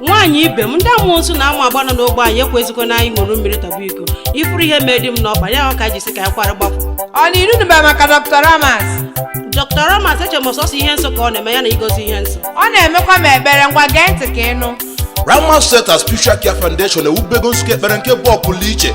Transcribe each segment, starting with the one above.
nwaanyị ibe m ndị amusu na amagba nọ n'ogbe anyị ekwezikwa na anyị ṅụrụ mmiri tọba iko ị fụrụ ihe mee di m n'ọkpa ya ka e ji sị ka anyị kwara gbapụ ọ na ilu nụba maka dr ramas dr ramas eche m ọ sọsọ ihe nsọ ka ọ na-eme ya na igozi ihe nsọ ọ na-emekwa m ekpere ngwa gee ntị ka ị nụ Ramas Center Spiritual Care Foundation ewubego nzukọ ekpere nke bụ ọpụrụ iche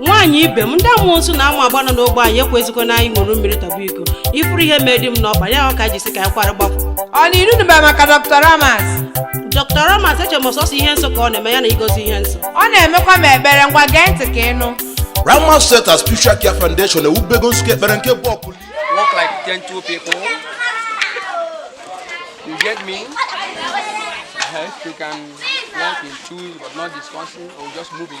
nwaanyị ibe m ndị amusu na amagba nọ n'ogbe anyị ekwezikwa na anyị ṅụrụ mmiri tọba iko ị fụrụ ihe mee di m n'ọkpa ya ka e ji sị ka anyị kwara gbapụ ọ na iru nụba maka dr ramas dr ramas eche m ọ sọsọ ihe nsọ ka ọ na-eme ya na igozi ihe nsọ ọ na-emekwa m ekpere ngwa gee ntị ka ị nụ Ramas Center Spiritual Care Foundation ewubego nzukọ ekpere nke bụ ọpụrụ walk like gentle people. You get me? Uh-huh. If you can walk in twos but not discussing or just moving.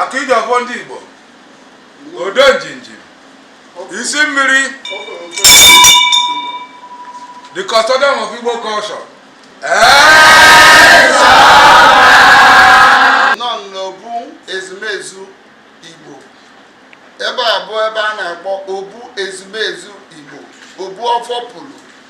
aka ji ọfọ ndị Igbo ode njinji isi mmiri the custodian of Igbo culture nọ n'obu ezumezu Igbo ebe a bụ ebe a na-akpọ obu ezumezu Igbo obu ọfọ pụrụ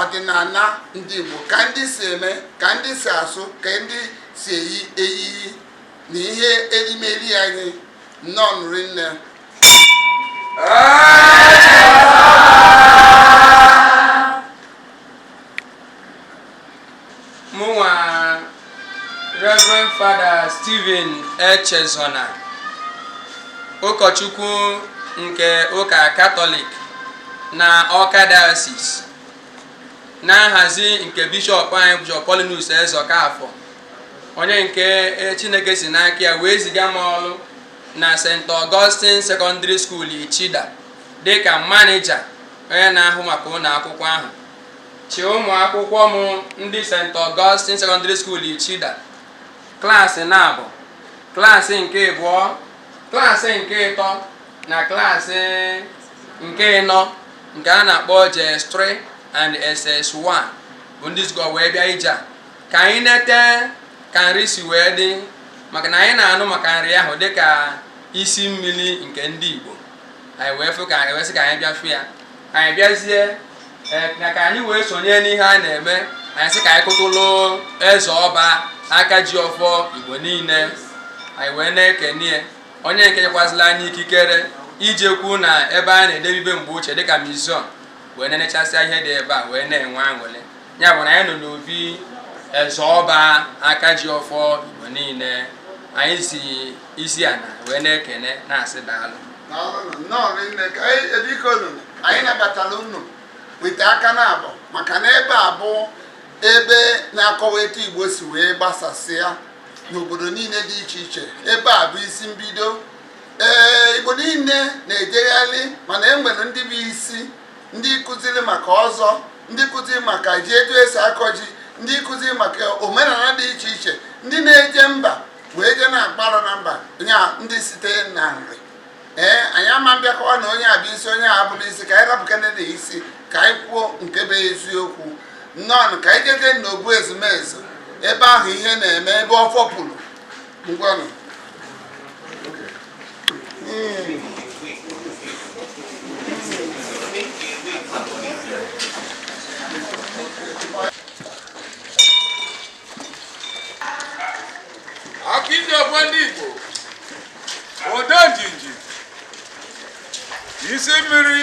ọdịnala ndị Igbo ka ndị si eme ka ndị si asụ ka ndị si eyi eyiyi na ihe erimeri anyị nnọọ nụ rinne mụnwa Reverend Father Stephen Echezona ụkọchukwu nke ụka katọlik na Ọka diocese na nhazi nke bishọp anyị bishọp Paulinus Ezeokafọ onye nke e, Chineke si n'aka ya wee ziga m ọrụ na St. Augustine Secondary School Ichida dịka manija onye na-ahụ maka ụlọ akwụkwọ ahụ Chị ụmụ akwụkwọ m ndị St. Augustine Secondary School Ichida klaasị naabọ klaasị nke abụọ klaasị nke ịtọ na klaasị nke ịnọ nke a na-akpọ JS3 and SS1 bụ ndị zukọ wee bịa ije a ka anyị nete ka Nri si wee dị maka na anyị na-anụ maka Nri ahụ dịka isi mmiri nke ndị Igbo anyị wee fụ ka anyị wee sị ka anyị bịa fụ ya anyị bịazie eh, na ka anyị wee sonye n'ihe a na-eme anyị sị ka anyị kụtụlụ eze ọba aka ji ọfọ igbo niile anyị wee na-ekene onye nke nyekwazila anyị ikikere ijekwu na ebe a na-edebe ihe mgbe ochie dịka museum wee na-enechasịa ihe dị ebe a wee na-enwe aṅụrị ya bụ na anyị nọ n'obi eze ọba aka ji ọfọ igbo niile anyị si isi ala wee na-ekene na-asị daalụ Daalụnụ nnọọ rinne ka anyị ebiko unu anyị nabatara unu wete aka naabọ maka na ebe a bụ ebe na-akọwa etu Igbo si wee gbasasịa n'obodo niile dị iche iche ebe a bụ isi mbido ee Igbo niile na-ejegharị mana e nwere ndị bụ isi ndị kụziri maka ọzọ ndị kụziri maka ji etu esi akọ ji ndị kụziri maka omenala dị iche iche ndị na-eje mba wee jee na-akpụ arụ na mba nya ndị site na Nri ee anyị ama abịa akọwa na onye a bụ isi onye a abụrọ isi ka anyị rapụkene ndị isi ka anyị kwuo nke bụ eziokwu nnọọ ka anyị jeje n'obu ezumezu ebe ahụ ihe na-eme ebe ọfọ puru ngwanụ aka ji ọfọ ndị Igbo ode njinji isi mmiri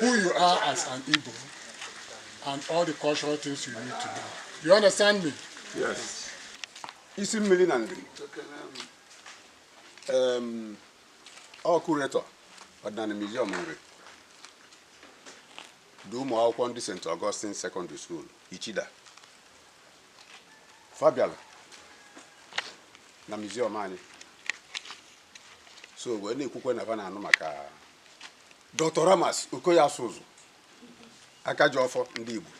who you are as an Igbo and all the cultural things you need to know. You understand me? Yes. Isi mmiri na Nri. Um, ọ curator Ọdịnanị Museum Nri du ụmụ akwụkwọ ndị St. Augustine Secondary School Ichida fa bịala na museum anyị so wee na-ekwukwa na fa na-anụ maka Dr. Ramas Okoye Asuzu aka ji ọfọ ndị Igbo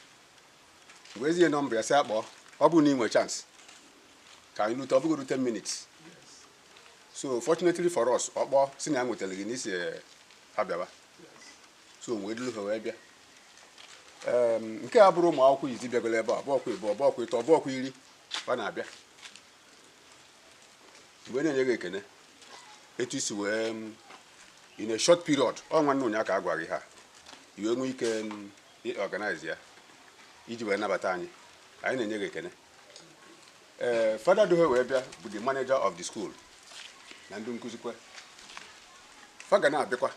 m wee zie nọmba ya sị a kpọọ ọ bụrụ na ị nwee chance ka anyị lute ọ bụgodu ten minutes so fortunately for us ọ kpọọ sị na ya nwetara gị na ị sị ha bịaba so wee duru ha wee bịa nke a abụrọ ụmụ akwụkwọ izi bịagoro ebe a ọ bọọkwa ịbụọ ọ bọọkwa ịtọ ọ bọọkwa iri a na-abịa m wee na-enye gị ekene etu i si wee m, in a short period ọ nwanne ụnyaahụ ka a gwara gị ha i wee nwee ike m, i organize ya iji wee nabata anyị anyị na-enye gị ekene ee fada du ha wee bịa bụ the manager of the school na ndị nkụzikwa fa ga na-abịakwa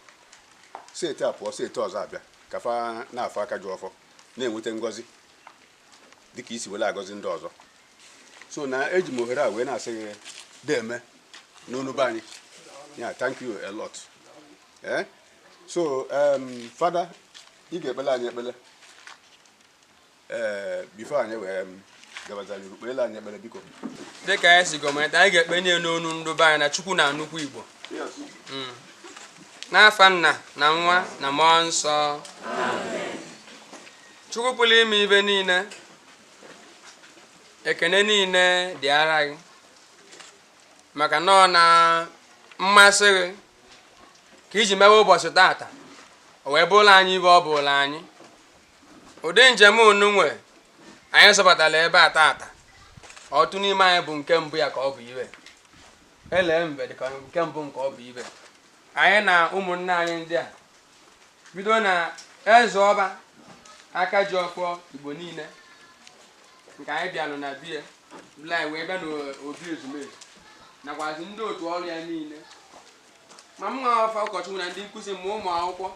set a pụọ set ọzọ abịa ka fa na-afụ aka ji ọfọ na-enweta ngọzi dịka i si were agọzi ndị ọzọ so na eji m ohere a wee na-asị gị deme n'onu be anyị ya thank you a lot ee eh? so um, fada ị ga-ekpele anyị ekpele ee eh, bifo anyị wee um, gabazara iru kpele anyị ekpele biko dịka anyị si gọọmenti anyị ga-ekpenye nụ ndị be anyị na chukwu na nnukwu igbo hmm. n'afa nna na nwa na mmụọ nsọ Chukwu pụrụ ime ibe niile ekene niile dịara gị maka na ọ na mmasị gị ka i ji mewe ụbọchị tata o wee bụrụ anyị ibe ọ bụlụ anyị ụdị njem onyenwe anyị zọbatara ebe a tata ọtụtụ n'ime anyị bụ nke mbụ ya ka ọ bụ ibe ele mbe dịka nke mbụ nke ọ bụ ibe anyị na ụmụnne anyị ndị a bido na eze ọba aka ji ọfọ igbo niile nke anyị bịalụ na be ya anyị wee bịa n'obi ezumezu nakwazi ndị otu ọrụ ya niile ma mụ nwa ofu ụkọchukwu na ndị nkụzi ma ụmụ akwụkwọ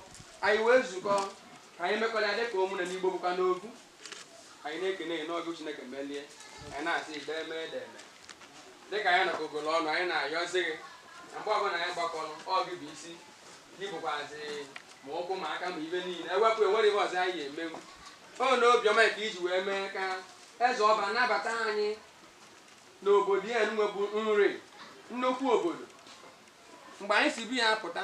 anyị wee zukọ ka anyị mekọrịa dịka ụmụnna n'igbo bụkwa n'ogu anyị na-ekene ya na ọ bụ chineke melie anyị na-asị dee mee dee mee dịka anyị nọkọgolu ọnụ anyị na-ayọzi gị na mgbe ọbụla anyị gbakọrọ ọ gị bụ isi ị bụkwazi ma ụkwụ ma aka ma ibe niile ewepụ enwerọ ihe ọzọ anyị emenwu ọ na obiọma ka i ji wee mee ka eze ọba nabata anyị n'obodo ya nwa bụ nri nnukwu obodo mgbe anyị si be ya pụta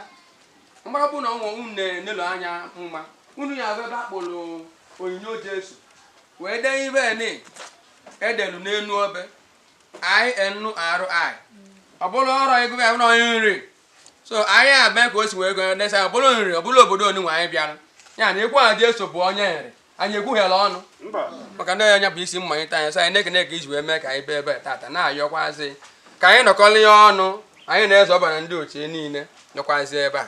mgbe ọ bụ na ọnwa unu na-enelo anya mma unu ya bụ ebe a kpọrọ onyinyo jesu wee dee ibe nị e delu n'enu obe inri ọ bụrụ ọrụ a gụbe ya bụrụ onye nri so anyị a mee ka o si wee gụnye desa ọ bụrụ nri ọ bụrụ obodo onyenwe anyị bịara ya na-ekwu na Jesu bụ onye nri anyị ekwughelọ ọnụ maka na onye bụ isi mmalite anyị so anyị na-ekene ka i ji wee mee ka anyị bịa ebe a tata na-ayọkwazi ka anyị nọkọlịa ọnụ anyị na eze ọba na ndị otu niile nọkwazi ebe a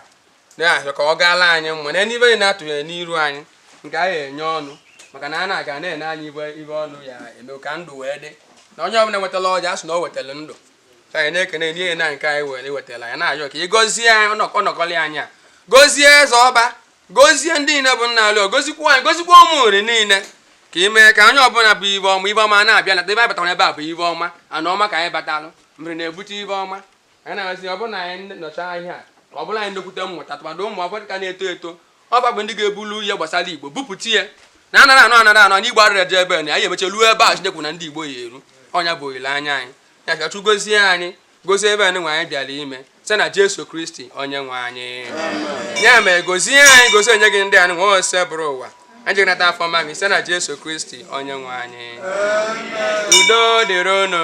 na-arịọ ka ọ gaala anyị mma na n'ibe anyị na-atụghị n'iru anyị nke anyị enye ọnụ maka na a na-aga na-ene anyị ibe ọnụ ya eme ka ndụ wee dị na onye ọbụla wetala ọjị a sị na o wetara ndụ anyị na-ekene n'ihe na nke anyị were wetara ya na-ayọ ka ị gọzie ọnọkọlị anyị a gozie eze ọba gozie ndị niile bụ nna alụ gozikwa anyị gozikwa ụmụ nri niile ka ị mee ka onye ọbụla bụ ibe ọma ibe ọma na-abịa na ebe anyị batara ebe a bụ ibe ọma ana ọma ka anyị batalụ mmiri na-ebute ibe ọma anyị na-ayọzi ọ bụrụ na anyị nọcha ya ka ọ bụrụ anyị nnekwute mmụta tụmadụ ụmụ ọbụla ka na-eto eto ọ bụ ndị ga-ebulu ihe gbasara igbo bupụta ya na anara anọ anara anọ na igbo arịrịa dị ebe na anyị emecha ruo ebe a chineke kwu na ndị igbo ya eru ọ nya bụ olileanya anyị ya ka chukwu gozie anyị gozie ebe anyị nwe anyị bịara ime site na jesu kristi onye nwe anyị ya mere gozie anyị gozie onyinye gị ndị anyị nwe osebụrụwa anyị jiri nata afọ ọma gị site na jesu kristi onye nwe anyị udo dịrị unu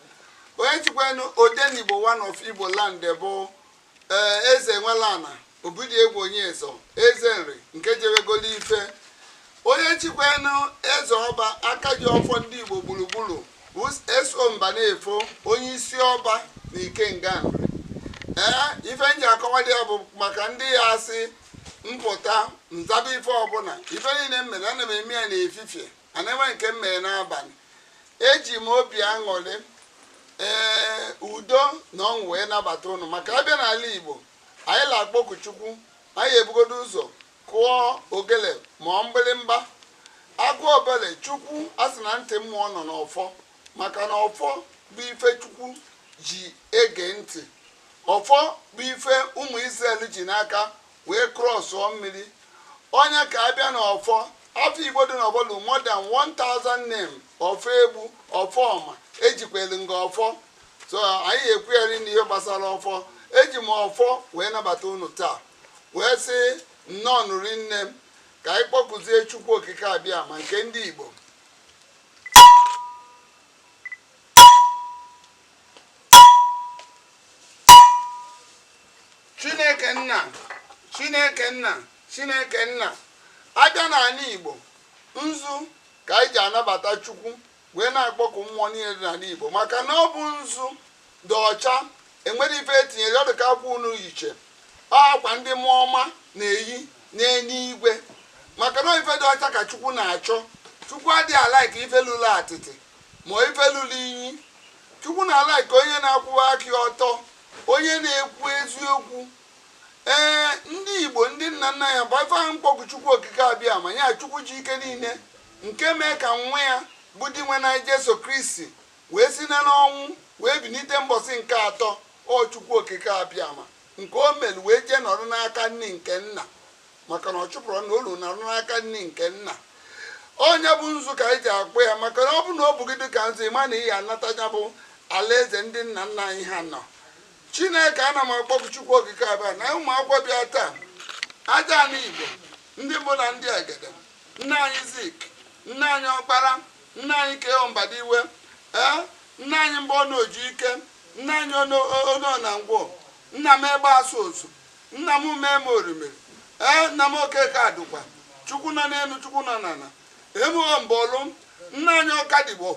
onye chikwenu odenigbo one of igbo land bụ ee eze enweleana obidiegwu onyeso eze nri nke jewegolo ife onye chikwenu eze ọba aka ji ọfọ ndị igbo gburugburu bụ eso mba na-efo onye isi ọba na ikenga nri ee ife m ji akọwa dị ya bụ maka ndị ya-asị m pụta m zaba ife ọbụla ife niile m mere ana m eme ya n'efifie ana enwe nke m mere n'abalị eji m obi aṅụrị ee udo na ọṅụ wee nabata unu maka a bịa n'ala igbo anyị na-akpọku chukwu anyị ebugodo ụzọ kụọ ogele ma ọ mgbịrịmgba a kụọ ogele chukwu a sị na ntị mmụọ nọ n'ọfọ maka na ọfọ bụ ife chukwu ji ege ntị ọfọ bụ ife ụmụ Israel ji n'aka wee crossụọ mmiri ọ nya ka a bịa n'ọfọ afa igbo dị n'ọfọ lu more than 1000 name ọfọegbu ọfọma ejikwere nga ọfọ so anaghị ekwugheri na ihe gbasara ọfọ eji m ọfọ wee nabata unu taa wee sị nnọọnụ rinne ka anyị kpọkụzie chukwu okike abịama nke ndị igbo chineke nna chineke nna chineke nna a bịa n'ala igbo nzu ka anyị ji anabata chukwu wee na-akpọku mmụọ niile dị n'ala igbo maka na ọ bụ nzu dị ọcha enwere ife etinyere ọ dị ka akwa unu yiche ọ akwa ndị mmụọ ọma na-eyi n'eluigwe maka na ife dị ọcha ka chukwu na-achọ chukwu adịghị alike ife lụrụ atịtị ma ife lụrụ inyi chukwu na-alike onye na-akwụwa aka ọtọ onye na-ekwu eziokwu ee ndị igbo ndị nna nna ya bụ ife ahụ m kpọkụ chukwu okike abịama ya chukwu ji ike niile nke mee ka nwa ya bụ dinwenụ anyị jesu kristi wee si na n'ọnwụ wee bilite mbọsị nke atọ ọ chukwu okike abịama nke o mere wee jee nọrọ n'aka nni nke nna maka na ọ chụpụrụ na olu nọrọ n'aka nni nke nna onye bụ nzu ka anyị ji akpọ ya maka na ọ bụ na ọ bụ gị dịka nzu ị ma na ị ya anata ya bụ alaeze ndị nna nna anyị ha nọ chineke ana m akpọku chukwu okike abịama ụmụ akwụkwọ bịa taa aja ana igbo ndị mbụ na ndị egede nna anyị zik nna anyị ọkpara nna anyị k.o. mbadiwe ee nna anyị mbonu ojike nna anyị onoh na ngwo nna m egbe asụ ozu Nna m ume m orimiri, ee, nna m Okeke Adukwa, Chukwu nọ n'enu, Chukwu nọ n'ana, emughọ mbọlụ, nna anyị Ọkadigbo,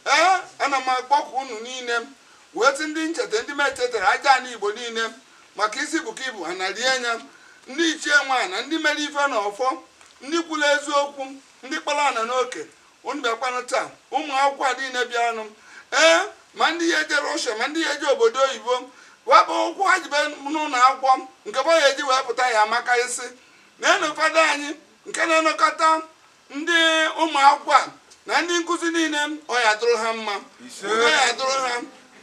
ee, ana m akpọku unu niile m, wee sị ndị m cheta, ndị m echetara, aja ana Igbo niile m, maka isi buka ibu ha na rie anya, ndị ichie nwe ana, ndị mere ife na ọfọ, ndị kwuru eziokwu, ndị kpọrọ ana n'oke, unu bịakwanụ taa ụmụ akwụkwọ a niile bịaranụ ee ma ndị ya eje Russia ma ndị ya eje obodo oyibo wepụ ụkwụ ha jebe n'ụlọ akwụkwọ nke bụ ya eji wee pụta ya ma karịsịa n'enu fada anyị nke na-enekọta ndị ụmụ akwụkwọ a na ndị nkụzi niile ọ ya adụrụ ha mma udo ya adụrụ ha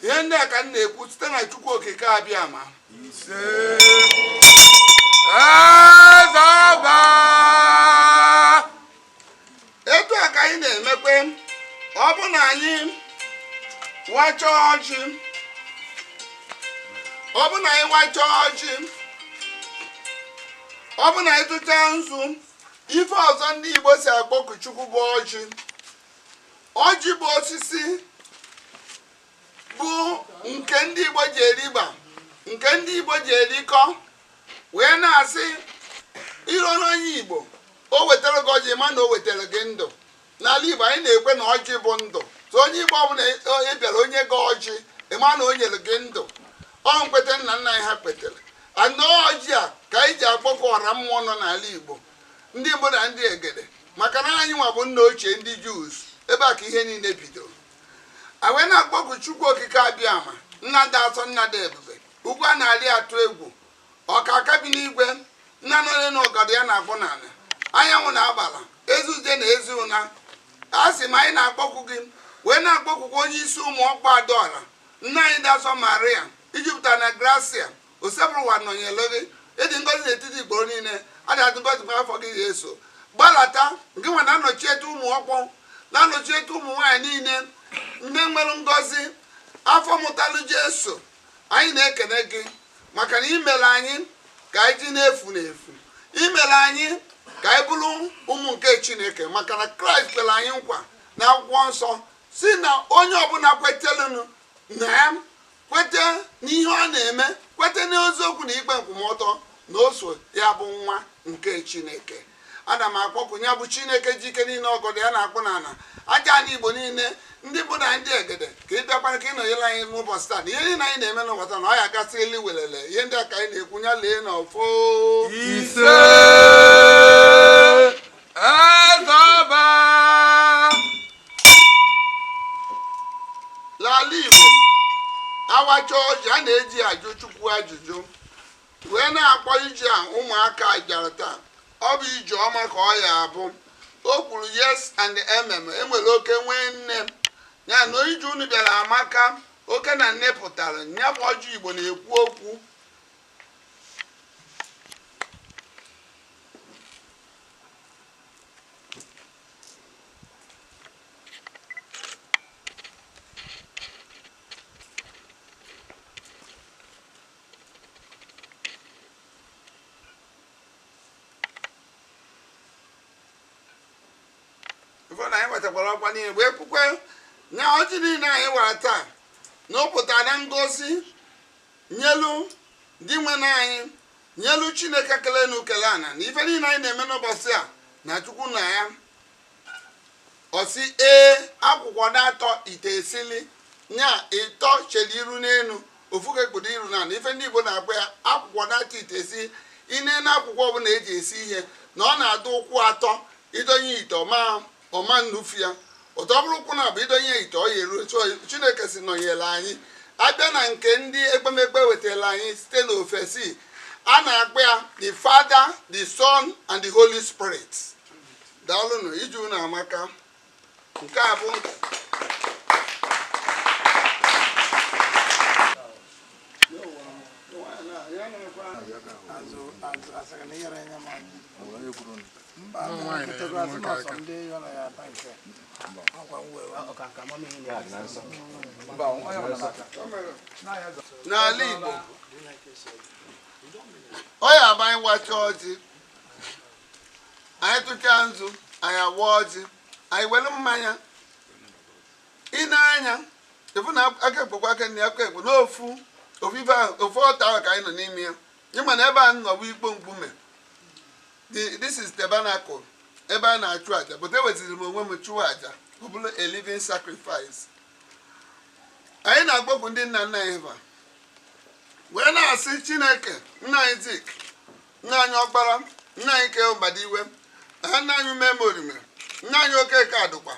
ihe ndị a ka m na-ekwu site na chukwu okike abịama etu a ka anyị na-emekwe ọ bụ na anyị wachaa ọjị ọ bụ na anyị wachaa ọjị ọ bụ na anyị tụchaa nzu ife ọzọ ndị Igbo si akpọku Chukwu bụ ọjị ọjị bụ osisi bụ nke ndị Igbo ji eriba nke ndị Igbo ji erikọ wee na-asị i ruo n'onye Igbo o wetara gị ọjị ma na o wetara gị ndụ n'ala Igbo anyị na-ekwe na ọjị bụ ndụ so onye Igbo ọbụla ị bịara o nye gị ọjị ị ma na o nyere gị ndụ ọ nkweta nna nna anyị ha kwetere and ọjị a ka anyị ji akpọkọ ọra mmụọ nọ n'ala Igbo ndị gboo na ndị Egede maka na anyị nwa bụ nna ochie ndị Jews ebe a ka ihe niile bidoro a wee na-akpọku chukwu okike abịama nna dị asọ nna dị ebube ugwu a na-arị atụ egwu ọkaaka bi n'igwe nna nọle na ọgọdọ ya na-akpụ n'ala anyanwụ na agbala ezi ije na ezi ụna a sị ma anyị na-akpọku gị wee na-akpọkukwa onye isi ụmụ ọkpụ adaọra nne anyị dị asọ maria i jupụta na grasia osebụrụwa nọnyere gị ị dị ngọzi n'etiti ikporo niile ọ dị ọ dị ngọzi nwa afọ gị jeso gbalata nke nwa na-anọchite ụmụ ọkpụ na-anọchite ụmụ nwaanyị niile ndị nwere ngọzi afọ mụtalụ jeso anyị na-ekene gị maka na i mere anyị ka anyị ji na-efu n'efu i mere anyị ka anyị bụrụ ụmụ nke chineke maka na kraịst kwere anyị nkwa n'akwụkwọ nsọ sị na onye ọbụla kweterenụ na ya kwete n'ihe ọ na-eme kwete n'eziokwu na ikpe nkwụmọtọ na o so ya bụ nwa nke chineke ana m akpọkụ ya bụ chineke ji ike niile ọgọdọ ya na-akpụ n'ala aja ala igbo niile ndị mbụ na ndị egede ka ị bịakwara ka ị nọnyere anyị n'ụbọchị taa na ihe niile anyị na-eme n'ụwa taa na ọ ya gasị elu welele ihe ndị a ka anyị na-ekwu ya lee n'ọfọ ise n'ala Igbo a wacha ọjị a na-eji ajụ Chukwu ajụjụ wee na-akpọ ije a ụmụaka bịara taa ọ bụ ije ọma ka ọ ya abụ o kwuru yes and amen enwere oke nwee nne ya na ije unu bịara amaka oke na nne pụtara ya bụ ọjị Igbo na-ekwu okwu ife na anyị wetakwara ọkwa niile wee kwukwe na ọjị niile anyị wara taa na ọ pụta na ngozi nyelu dinwenụ anyị nyelu chineke kele enu kele ana na ife niile anyị na-eme n'ụbọchị a na chukwu na ya ọ sị ee akwụkwa naatọ ite esili nya ịtọ chere iru n'elu ofu ka ekpudo iru n'ana ife ndị igbo na-akpọ ya akwụkwa naatọ ite esili ị ne na akwụkwa ọbụla e ji esi ihe na ọ na-adụ ụkwụ atọ i donye ite ọ ma ọ ma nnufu ya but ọ bụrụ ụkwụ naabọ i donye ya ite ọ ya eru etu ọ ya chineke si nọnyere anyị a bịa na nke ndị ekpemekpe wetara anyị site n'ofesi a na-akpọ ya the father the son and the holy spirit daalụnụ ije unu amaka nke a bụ n'ala Igbo ọ ya bụ anyị wacha ọjị anyị tụcha nzu anyị awa ọjị anyị were mmanya ị nee anya even aka ekpe kwa aka nni aka ekpe na ofu ofu ife ahụ ofu altar ahụ ka anyị nọ n'ime ya ị ma na ebe a nọ bụ ikpo mkpume The- this is tabernacle ebe a na-achụ aja but eweziri m onwe m chụọ aja ọ bụrụ a living sacrifice anyị na-akpọkụ ndị nna nna anyị ha wee na-asị chineke nna anyị Zik nna anyị ọkpara nna anyị K.O. mbadiwe ha nna anyị ume morime nna anyị okeke adụkwa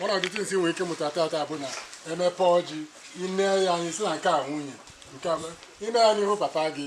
one of the things ị nwere ike mụta taata bụ na emepe ọjị i nee ya anya ị sị na nke a nwunye i nee ya anya ị hụ papa gị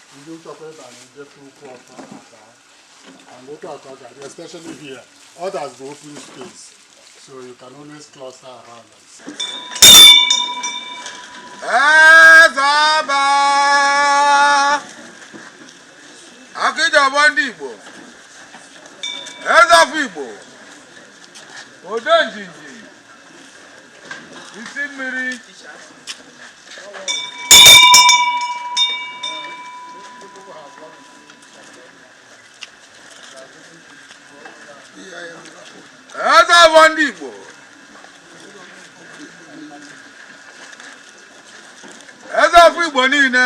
ndị nchọkwa ịba na njefe ukwu ọkụ aka and otu aka ọ ga-adị especially here others bụ open space so you can always cluster around us. Ezeọba Akajiọfọ ndị Igbo Eze ọfọ Igbo Odenjinji isi mmiri eze ọba ndị Igbo eze ọfọ Igbo niile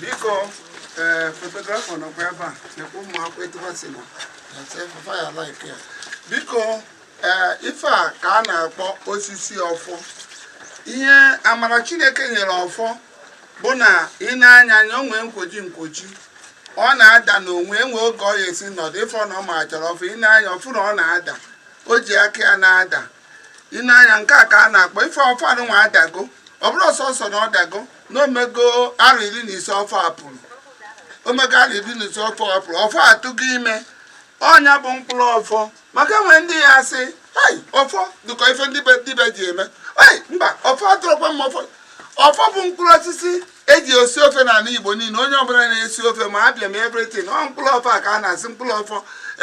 biko ee eh, photographer nọkwa ebe a nekwa ụmụ akwụkwọ etu ha si na biko ee eh, ife a ka a na-akpọ osisi ọfọ ihe amara chineke nyere ọfọ bụ na i nee ya anya o nwe nkwoji nkwoji ọ na-ada n'onwe e nwe oge ọ ya-esi nọdụ ị fụ na ọ ma chọrọ ọfọ i nee anya ị fụ na ọ na-ada o ji aka ya na-ada i nee anya nke a ka a na-akpọ ife ọfọ anụnwa adago ọ bụrọ ọsọsọ na ọ dago na o mego arọ iri na ise ọfọ a pụrụ o mego arọ iri na ise ọfọ a pụrụ ọfọ atụgo ime ọ nya bụ mkpụrụ ọfọ maka e nwe ndị ya-asị "Hai, ọfọ dịka ife ndị dibịa ji eme "Hai, mba ọfọ atụrụkwa m ọfọ ọfọ bụ mkpụrụ osisi eji esi ofe na ala igbo niile onye ọbụla na-esi ofe ma Abịa ma everything ọ mkpụrụ ọfọ a ka a na-asị mkpụrụ ọfọ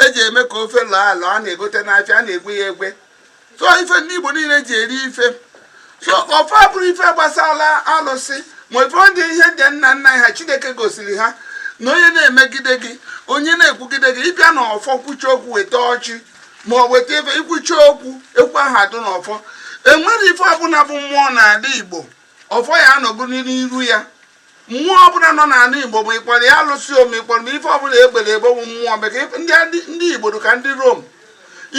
eji eme ka ofe lọọ alọ a na-egote n'afịa a na-egwe ya egwe so ife ndị igbo niile ji eri ife so ọfọ abụrọ ife gbasara alụsị ma ife ọ dị ihe ndị nna nna ha chineke gosiri ha na onye na-emegide gị onye na-ekwugide gị ị bịa na ọfọ kwuchie okwu weta ọjị ma ọ weta ife i kwuchie okwu ekwu aha adụ n'ọfọ enwere ife ọbụla bụ mmụọ n'ala igbo ọfọ ya anọgo n'iru ya mmụọ ọbụla nọ n'ala igbo ma ị kpọrọ ya alụsị ọ ma ị kpọrọ ma ife ọbụla egbere egbe bụ mmụọ maka ndị igbo dị ka ndị rom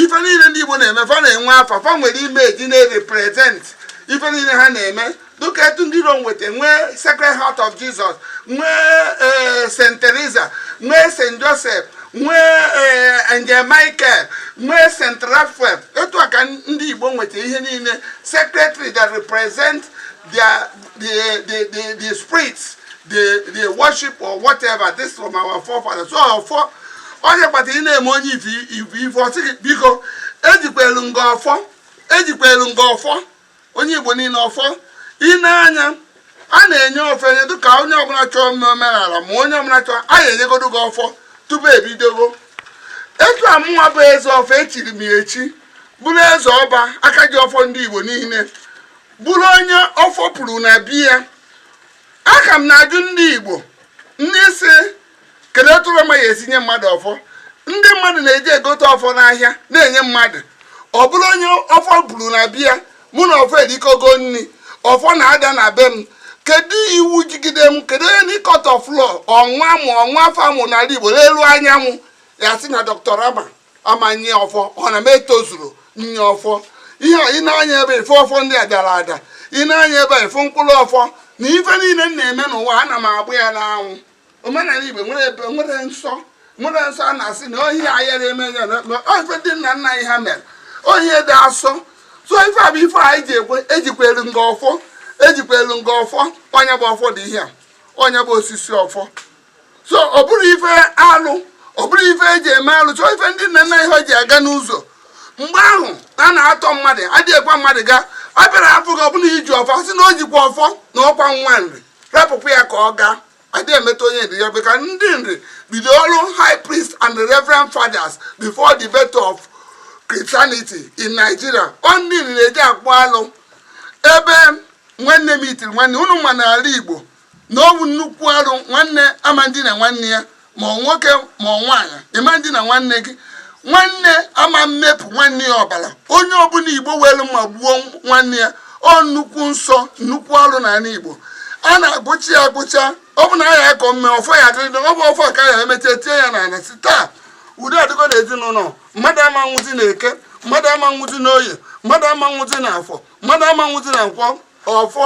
ife niile ndị igbo na-eme fa na-enwe afa fa nwere image na-represent ife niile ha na-eme dịka etu ndị rom nweta nwee sacred heart of jesus nwee eh, st teresa nwee st joseph nwee angel michael nwee st rafael etu a ka ndị igbo nweta ihe niile sacred tree that represent their, the, the, the, the spirits the, they worship or whatever this from our forefathers so ọfọ onye kpata ị na-eme onye ife ife ọ sị gị biko ejikwelu m gị ọfọ ejikwelu m gị ọfọ onye Igbo niile ọfọ ị na-anya a na-enye ọfọ enye dịka onye ọbụla chọọ ime omenala ma onye ọbụla chọọ a ga-enyegodo gị ọfọ tupu ebidogo etu a mụnwa bụ eze ọfọ echiri m echi bụrụ eze ọba aka ji ọfọ ndị Igbo niile bụrụ onye ọfọ puru na be ya ka m na-ajụ ndị Igbo ndị si kedu etu ramas ya esi nye mmadụ ọfọ ndị mmadụ na-eji egote ọfọ n'ahịa na-enye mmadụ ọ bụrụ onye ọfọ puru na be ya mụ na ọfọ erikọgo nri ọfọ na-ada na be m kedu iwu jigide m kedu onye any court of law or nwa mụ or nwa afọ mụ n'ala igbo n'elu anyanwụ ya-asị na dọkịta ramas ama nye ọfọ ọ na m etozurọ nye ọfọ ihe a ị na-anya ebe ife ọfọ ndị a dara ada ị na-anya ebe ife mkpụrụ ọfọ na ife niile m na-eme n'ụwa ana m agba ya n'anwụ omenala igbo nwere ebe nwere nsọ nwere nsọ a na-asị na ọ ihe ayara eme ya ọ ife ndị nna nna anyị ha mere ọ ihe dị asọ so ife a bụ ife a eji ekwe ejikwelu m gị ọfọ ejikwelu m gị ọfọ ọ ya bụ ọfọ dị ihe a ọ ya bụ osisi ọfọ so ọ bụrọ ife alụ ọ bụrọ ife eji eme alụ so ọ ife ndị nna nna anyị ha ji aga n'ụzọ mgbe ahụ a na-atọ mmadụ adịghị ekwe mmadụ gaa a bịara afụ gị ọ bụrụ i ji ọfọ sị na o jikwa ọfọ na ọkwa nwa nri rapụkwa ya ka ọ gaa adị emetụ onye nri ya bụ ka ndị nri bido ọrụ high priest and reverend fathers before the birth of christianity in nigeria ọ ndị nri na-eji akpụ alụ ebe nwanne metụlụ nwanne unu ma n'ala igbo na ọ bụ nnukwu arụ nwanne ama ndina nwanne ya ma nwoke ma nwaanyị ị ma ndina nwanne gị nwanne ama mmepụ nwanne ya ọbara onye ọbụla igbo welu mma gbuo nwanne ya ọ nnukwu nsọ nnukwu alụ n'ala igbo a na-agụcha ya agụcha ọ bụ na a ya akọ mme ọfọ ya adịrịdị ọ bụ ọfọ ka ya emecha tie ya n'ala si taa udo adịgo na ezinụlọ mmadụ ama nwụzi na eke mmadụ ama nwụzi na oye mmadụ ama nwụzi na afọ mmadụ ama nwụzi na nkwọ ọfọ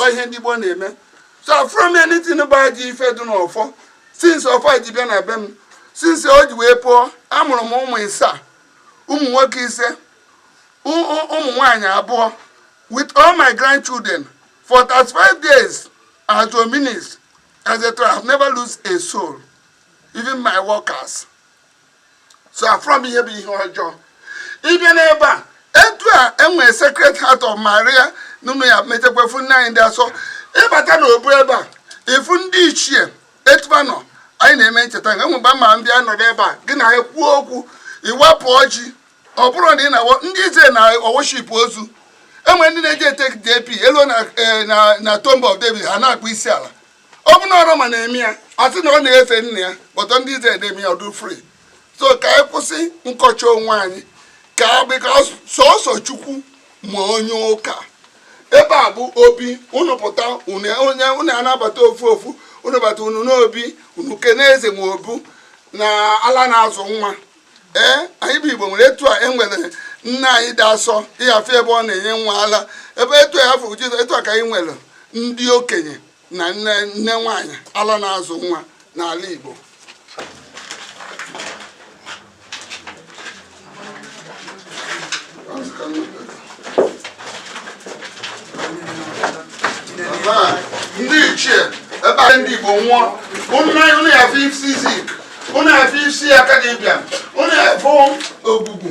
ọ ihe ndị gboo na-eme so afụrọ m anything bụ ajọ ife dị n'ọfọ since ọfọ ji bịa na be m since o ji wee puo amụrụ m ụmụ ịsaa ụmụ nwoke ise ụmụ nwaanyị abụọ with all my grandchildren for 35 days as a minister etc. I have never lose a soul, even my workers. so afụrọ m ihe bụ ihe ọjọọ ịbịa n'ebe a etu a enwere sacred heart of maria n'ụlọ ya metekwefu nne anyị dị asọ ịbata na obu ebe a ịfụ ndị ichie etu ba nọ anyị na-eme ncheta nke enwegbe ma ndị a nọrọ ebe a gị na ha kwuo okwu iwepụ ọjị ọ bụrụ na ị na ndị izrel na-eworship ozu enwere ndị na-eje etake trip eluo na eh, tomb of david ha na-akpọ isi ala ọ bụ na ọrụ ma na-eme ya a sị na ọ na-efe nne ya but ndị izrel eme ya ọ dị free so ka anyị kwụsị nkọcha onwe anyị because sọsọ chukwu ma onye ụka ebe a bụ obi unu pụta unu ana-abata ofu ofu unu bata unu n'obi unu kene eze ma obu na ala na-azụ nwa ee anyị bụ igbo nwere etu a e nwere nne anyị dị asọ ị ya afụ ebe ọ na-enye nwa ala ebe etu ya afụ jizọs etu a ka anyị nwere ndị okenye na nne nwaanyị ala na-azụ nwa n'ala igbo ndị ichie ebe a ndị igbo nwụọ unu ya afụ isi zik unu ya afụ isi akanu ibiam unu ya afụ ojukwu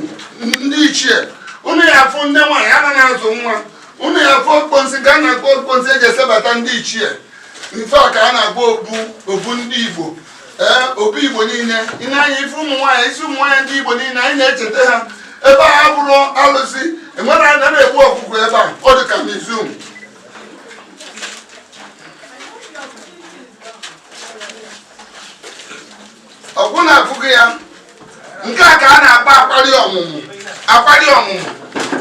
ndị ichie unu ya afụ nne nwaanyị ana na-azụ nwa unu ya afụ okpensi ka a na-akpọ okpensi eji esebata ndị ichie nke a ka a na-akpọ obu obu ndị igbo ee obu igbo niile ị nee anya ị fụ ụmụ nwaanyị isi ụmụ nwaanyị ndị igbo niile anyị na-echeta ha ebe a abụrọ alụsị enwerọ onye na-egbu ọkụkọ ebe a ọ dị ka museum ọgwụ na-abụghị ya nke a ka a na-akpọ akwali ọmụmụ akwali ọmụmụ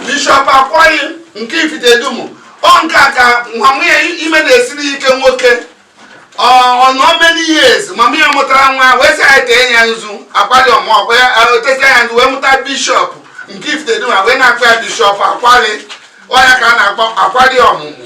bishọp akwali nke ifite dunu ọ nke a ka mama ya ime na-esiri ike nwoke ọ nọọ many years mama ya amụtarọ nwa wee sị anyị tee ya nzu akwali ọmụmụ ọkwa ya o tesịa nzu wee mụta bishọp nke ifite dunu wee na-akpọ ya bishọp akwali ọ ya ka a na-akpọ akwali ọmụmụ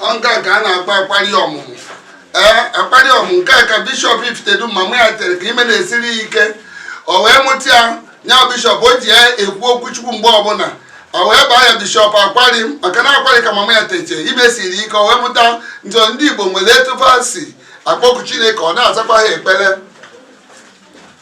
ọ nke a ka a na-akpọ akwali ọmụmụ ee akwali ọmụmụ nke a ka bishọp ifite dunu mama ya tere ka ime na-esiri ya ike o wee mụta ya nya bishọp o ji ya ekwu okwu chukwu mgbe ọbụla o wee baa ya bishọp akwali maka na akwali ka mama ya teche ime siri ike o wee mụta ya ndị igbo nwere etu fa si akpọku chineke ọ na-azakwa ha ekpere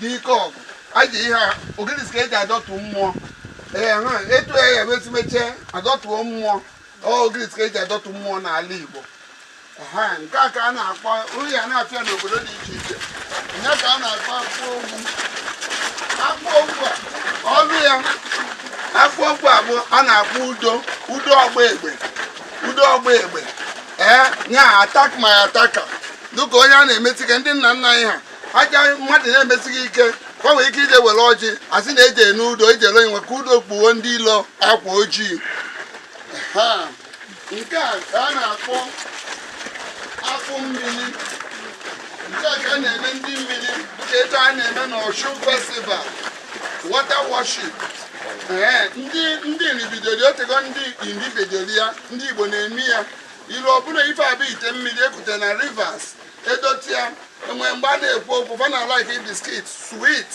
dike ọgụ aji ihe a ogirisi ka eji adọtụ mmụọ ee ha etu ya ya wezi meche adọtụo mmụọ ogirisi ka eji adọtụ mmụọ n'ala Igbo ha nke a ka a na-akpọ uri ya na-apịa n'obodo dị iche iche nya ka a na-akpọ akpụ ogwu akpụ ogwu a ọlụ ya akpụ ogwu a bụ a na-akpọ udo udo ọgba egbe udo ọgba egbe ee nya attack my attacker dịka onye a na-emesi ike ndị nna nna anyị ha aja mmadụ na-emesi gị ike ka nwere ike ije were ọjị asị na eje n'udo ije ele onyenwe ka udo kpuo ndị ilo akwa ojii nke a ka a na-akpọ akpụ mmiri nke a ka a na-eme ndị mmiri dịka etu a na-eme n'Osun festival water worship ee ndị ndị Nri bidoro o teego ndị Nri bidoro ya ndị igbo na-eme ya ilu ọbụla ife a bụ ite mmiri ekute na rivers edote ya enwere mgbe a na-ekwu okwu fa na like biscuit sweet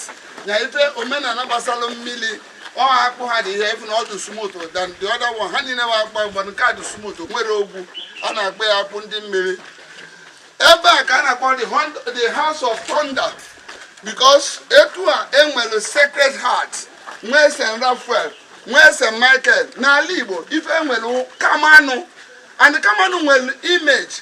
na ife omenala gbasara mmiri ọha akpụ ha dị ihe efu na ọ dị smooth than the other one ha niile bụ akpụ mgbe nke a dị smooth enwerọ ogwu a na-akpọ ya akpụ ndị mmiri ebe a ka a na-akpọ the hon- the house of thunder because etu a enwere sacred heart nwee st raphael nwee st michael n'ala igbo ife enwere kamanụ and kamanụ nwere image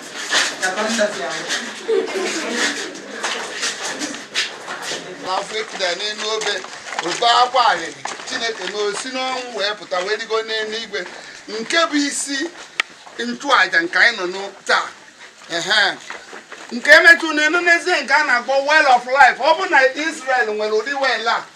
n'afọ ekida n'elu obe obe akwa arịrị chineke na o si n'ọnwụ wee pụta wee rigo n'elu igwe nke bụ isi nchụaja nke anyị nọ n'o- taa ehe nke emetụ n'elu n'ezie nke a na-akpọ well of life ọ bụ na Israel nwere ụdị well a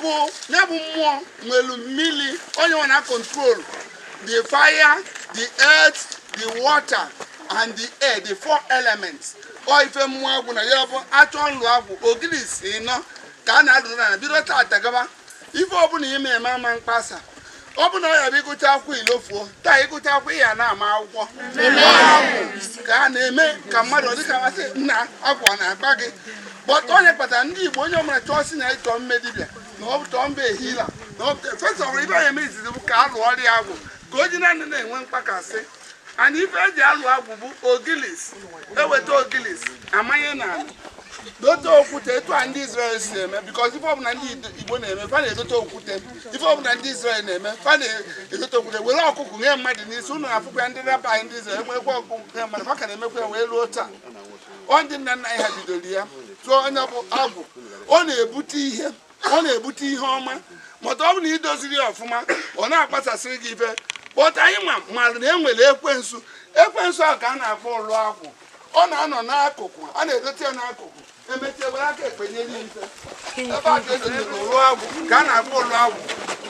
bụ ya bụ mmụọ nwelu mmiri ọ ya na-control the fire the earth the water and the air the four elements ọ ife mmụọ agwụ na ya bụ a chọọ ịlụ agwụ ogirisi anọ ka a na-alụrụ na bido tata gaba ife ọbụla ime eme ama mkpasa ọ bụ na ọ ya bụ ịgụcha akwụkwọ ị lofuo taa ịgụcha akwụkwọ ị ya na-ama akwụkwọ agwụ na-eme ka mmadụ dịka a sị na agwụ na-akpa gị but ọ ya kpatara ndị Igbo onye ọbụla chọọ si na ọ chọọ ime dibịa na ọ chọọ ịbụ healer na first of all ife a ya-eme izizi bụ ka a lụọrọ ya agwụ ka o ji naanị na-enwe mkpakasị and ife eji alụ agwụ bụ ogilisi eweta ogilisi amanye n'ala dote okwute etu a ndị Israel si eme because ife ọbụla ndị Igbo na-eme fa na-edote okwute ife ọbụla ndị Israel na-eme fa na-edote okwute were ọkụkụ nye mmadụ n'isi ụnụ afụkwa ndị rabbi ndị Israel enwekwa ọkụkụ nye mmadụ fa ka na-emekwa ya wee ruo taa ọ ndị nna nna anyị ha bidoro ya so onye bụ agwụ ọ na-ebute ihe ọ na-ebute ihe ọma ma ọ bụ na idoziri ya ọfụma ọ na-akpasasịrị gị ife but anyị mara na enwere ekwensu ekwensu ahụ ka a na-akpọ ụlọ agwụ ọ na-anọ n'akụkụ a na-edote ya n'akụkụ emecha e were aka ekpe nye ya ife ebe a ka edonyere ụlọ agwụ ka a na-akpọ ụlọ agwụ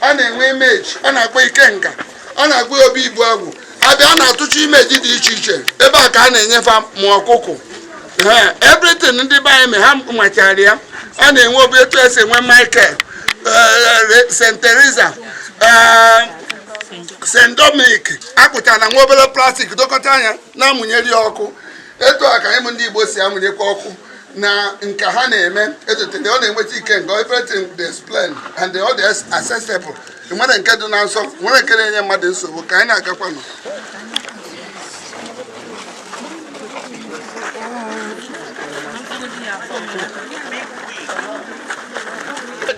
a na-enwe image a na-akpọ ikenga a na-akpọ ya obi ibu agwụ abịa a na-atụcha image dị iche iche ebe a ka a na-enye fa ma ọkụkụ ha everything ndị be anyị ma ha machara ya a na-enwe obi etu esi enwe michael eh, st teresa eh, st dominic akpụchara na nwa obere plastic dokọta ya na-amụnyeri ọkụ etu a ka ndị Igbo si amụnyekwa ọkụ na nka ha na-eme etotere ọ na-enweta ike nke everything displayed and ọ dị accessible nwere nke dị na nsọ nwere nke na-enye mmadụ nsogbu ka anyị na-agakwanụ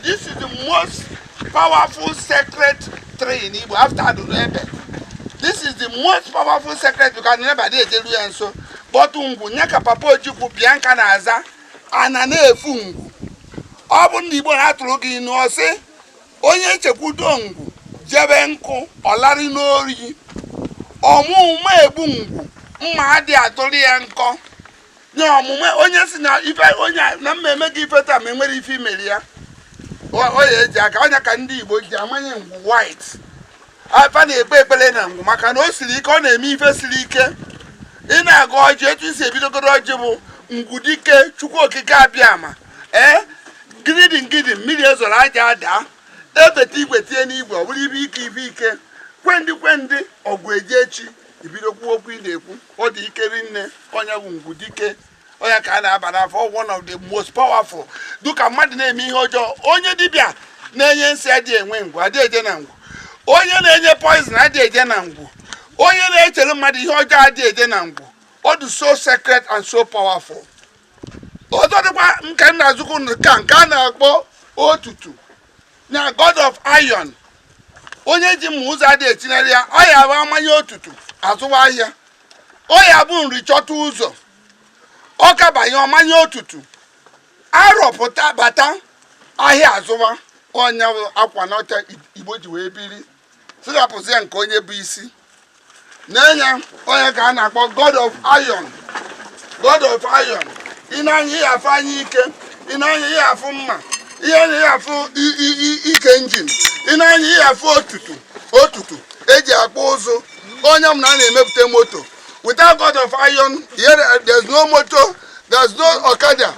This is the most powerful sacred tree in Igbo after Adurebe. This is the most powerful sacred because na fa adị eru ya nso. But ngwu nya ka Papa Ojukwu Bianca na-aza ana na-efu ngwu. Ọ bụ ndị Igbo na-atụrụ gị inu ọ sị onye chekwudo ngwu jebe nkụ ọlarị n'ori ọ ma ụma egbu ngwu mma adị atụrụ ya nkọ nye ọmụma onye si na ife onye na mmemme gị ife taa ma enwere ife i mere ya ọ ya eji aka ọ ya ka ndị Igbo ji amanye ngwu white fa na-ekpe ekpere na ngwu maka na o siri ike ọ na-eme ife siri ike ị na-agọ ọjị etu i si ebidogoro ọjị bụ ngwu dike chukwu okike abịama ee gidin gidin mmiri ezoro aja adaa ebeta igwe tie n'igwe ọ bụrụ ibe ike ibe ike kwendị kwendị ọgụ eji echi ibido kwuo okwu ị na-ekwu ọ dị ike rinne onye bụ ngwu dike ọ ya ka a na-aba n'afọ one of the most powerful dịka mmadụ na-eme ihe ọjọọ onye dibịa na-enye nsị adị enwe ngwu adị eje na ngwu onye na-enye poison adị eje na ngwu onye na-echere mmadụ ihe ọjọọ adị eje na ngwu ọ dị so sacred and so powerful ọzọ dịkwa nke nna azụkwu nke a na-akpọ otutu na god of iron onye ji mma ụzọ adị echinyere ya ọ ya bụ amanye otutu azụwa ahịa ọ ya bụ nri chọta ụzọ ọka banye ọ manye otutu arọ pụta bata ahịa azụwa ọnya akwa n'ọcha igbo ji wee biri sirapụzie nke onye bụ isi na-enye ọ ya ka a na-akpọ god of iron god of iron ị ne anya ị ya-afụ anya ike ị ne anya ị ya-afụ mma ị ne anya ị ya-afụ ike engine ị ne anya ị ya-afụ otutu otutu eji akpụ ụzụ onye m na a na-emepụta moto without god of iron there's no motor there's no okada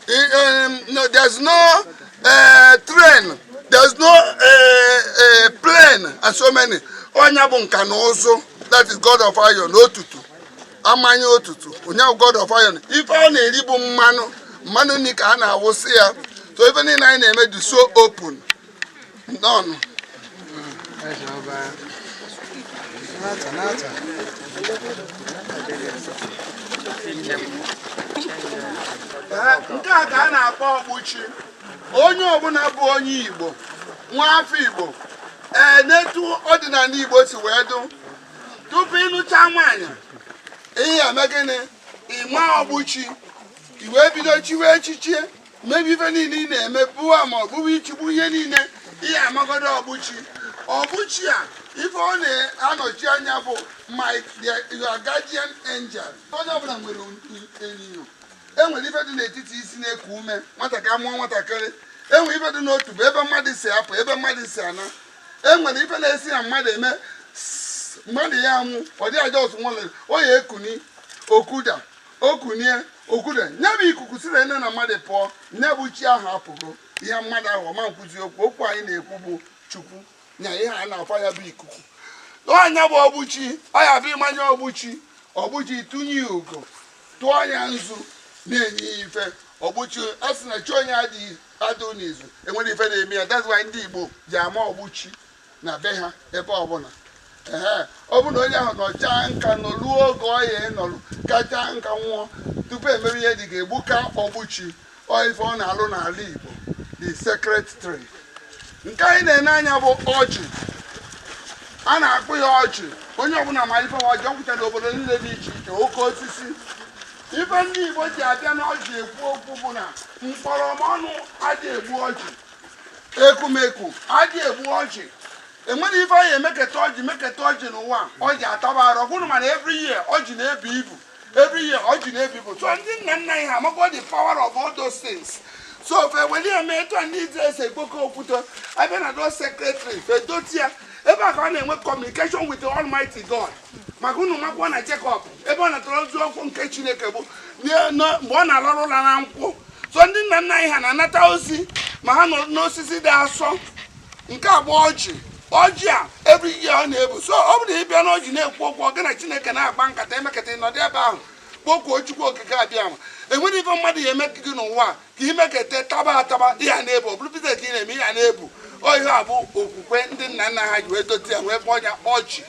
um, there's no ee train there's no eh, eh, plane and so many ọ nya bụ nka na ụzụ that is god of iron otutu a manye otutu ọ nya bụ god of iron ife ọ na-eri bụ mmanụ mmanụ nri ka a na-awụsị ya so ife niile anyị na-eme dị so open nọn nke a ka a na-akpọ ogbuchi onye ọbụla bụ onye igbo nwa afọ igbo ee n'etu ọdịnala igbo si wee dụ tupu ị nụta nwaanyị ị ya-eme gịnị ịma ogbuchi i wee bido chiwe echichi mebe ife niile ị na-eme bụwa ma ọ bụwa ichigbu ihe niile ị ya-amagodo ogbuchi ogbuchi a ife ọ na-anọchi anya bụ my your guardian angel onye ọbụla nwere nya o enwere ife dị n'etiti isi na-eku ume nwatakịrị a mụọ nwatakịrị enwere ife dị n'otubo ebe mmadụ si apụ ebe mmadụ si ana enwere ife na-esi na mmadụ eme mmadụ ya anwụ ọ dị just nwere ọ ya ekuni o kuda O kunie, o kuda, ya bụ ikuku siri na na mmadụ pụọ, ya bụ chi ahụ apụgo. Ihe mmadụ ahụ ọ ma nkwuzi okwu, okwu anyị na-ekwu bụ Chukwu, nya ihe a na-aba ya bụ ikuku. Ọ nya bụ ogbuchi, ọ ya bụ ịmanye ogbuchi, ogbuchi tụnye ya ugo, tụọ ya nzu, na-enye ya ife. Ogbuchi, a sị na chi onye adịghị n'izu, enwere ife na-eme ya, that's why ndị Igbo ji ama ogbuchi. na be ha ebe ọbụla ehe ọ bụrụ na onye ahụ nọchaa nka nọruo oge ọ ya-anọru kachaa nka nwụọ tupu emere ihe dị ga-egbuka ogbuchi ọ ife ọ na-alụ n'ala Igbo the sacred tree nke anyị na-ene anya bụ ọjị a na-akpọ ya ọjị onye ọbụla ma ife ọjị ọ kwụcha n'obodo niile dị iche iche oke osisi ife ndị Igbo ji abịa n'ọjị ekwu okwu bụ na mkpọrọmọnụ adị egbu ọjị ekumeku adị egbu ọjị enwere ife a ya-emeketa ọjị meketa ọjị n'ụwa ọjị ataba arụ ọ kwụrụ mana every year ọjị na-ebu ibu every year ọjị na-ebu ibu so ndị nna nna anyị ha amago the power of all those things so fe weli eme etu ndị Izrel si ekpoko okwute abịa na those sacred tree fe dote ya ebe a ka ọ na-enwe communication with the Almighty God maka unu makwa na Jekọb ebe ọ natara ozi okwu nke Chineke bụ mgbe ọ na-alarụ ụla na nkwụ so ndị nna nna anyị ha na-anata ozi ma ha nọ n'osisi dị asọ nke bụ ọjị ọjị a every year ọ na-ebu so ọ bụrụ na ị bịa n'ọjị na-ekwu okwu ọ gị na Chineke na-agba nkata emekata ịnọdụ ebe ahụ kpokuo Chukwu Okike Abịama enwere ife mmadụ ya eme gị n'ụwa ka imekete taba ataba ị ya na-ebu ọ bụrụ ka ị na-eme ị ya na-ebu ọ ihe a bụ okwukwe ndị nna nna ha ji wee dote ya wee kpọọ ya ọjị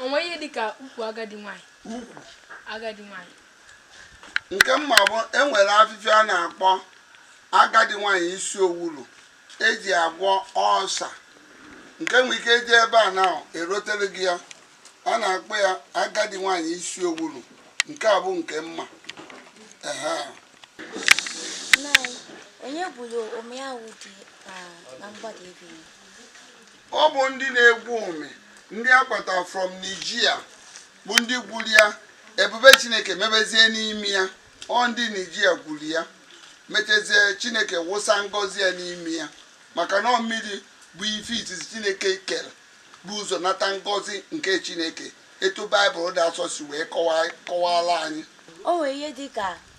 o nwe ihe dị ka ukwu agadi nwanyị ukwu agadi nwanyị nke m ma bụ e nwere afịfịa a na-akpọ agadi nwanyị isi owulu e ji agwọ ọsa nke nwere ike iji ebe a na erotere gị ya a na-akpọ ya agadi nwanyị isi owulu nke a bụ nke m ma ehe onye gwuru omi ahụ dị na mgbada ebe Ọ bụ ndị na-egwu omi ndị a kpọtara from Niger bụ ndị gwuru ya ebube Chineke mebezie n'ime ya ọ ndị Niger gwuru ya mechazie Chineke wụsa ngọzi ya n'ime ya maka na mmiri bụ ife izizi Chineke kere bu ụzọ nata ngọzi nke Chineke etu Baịbụl dị asọ si wee kọwara anyị o nwere ihe dị ka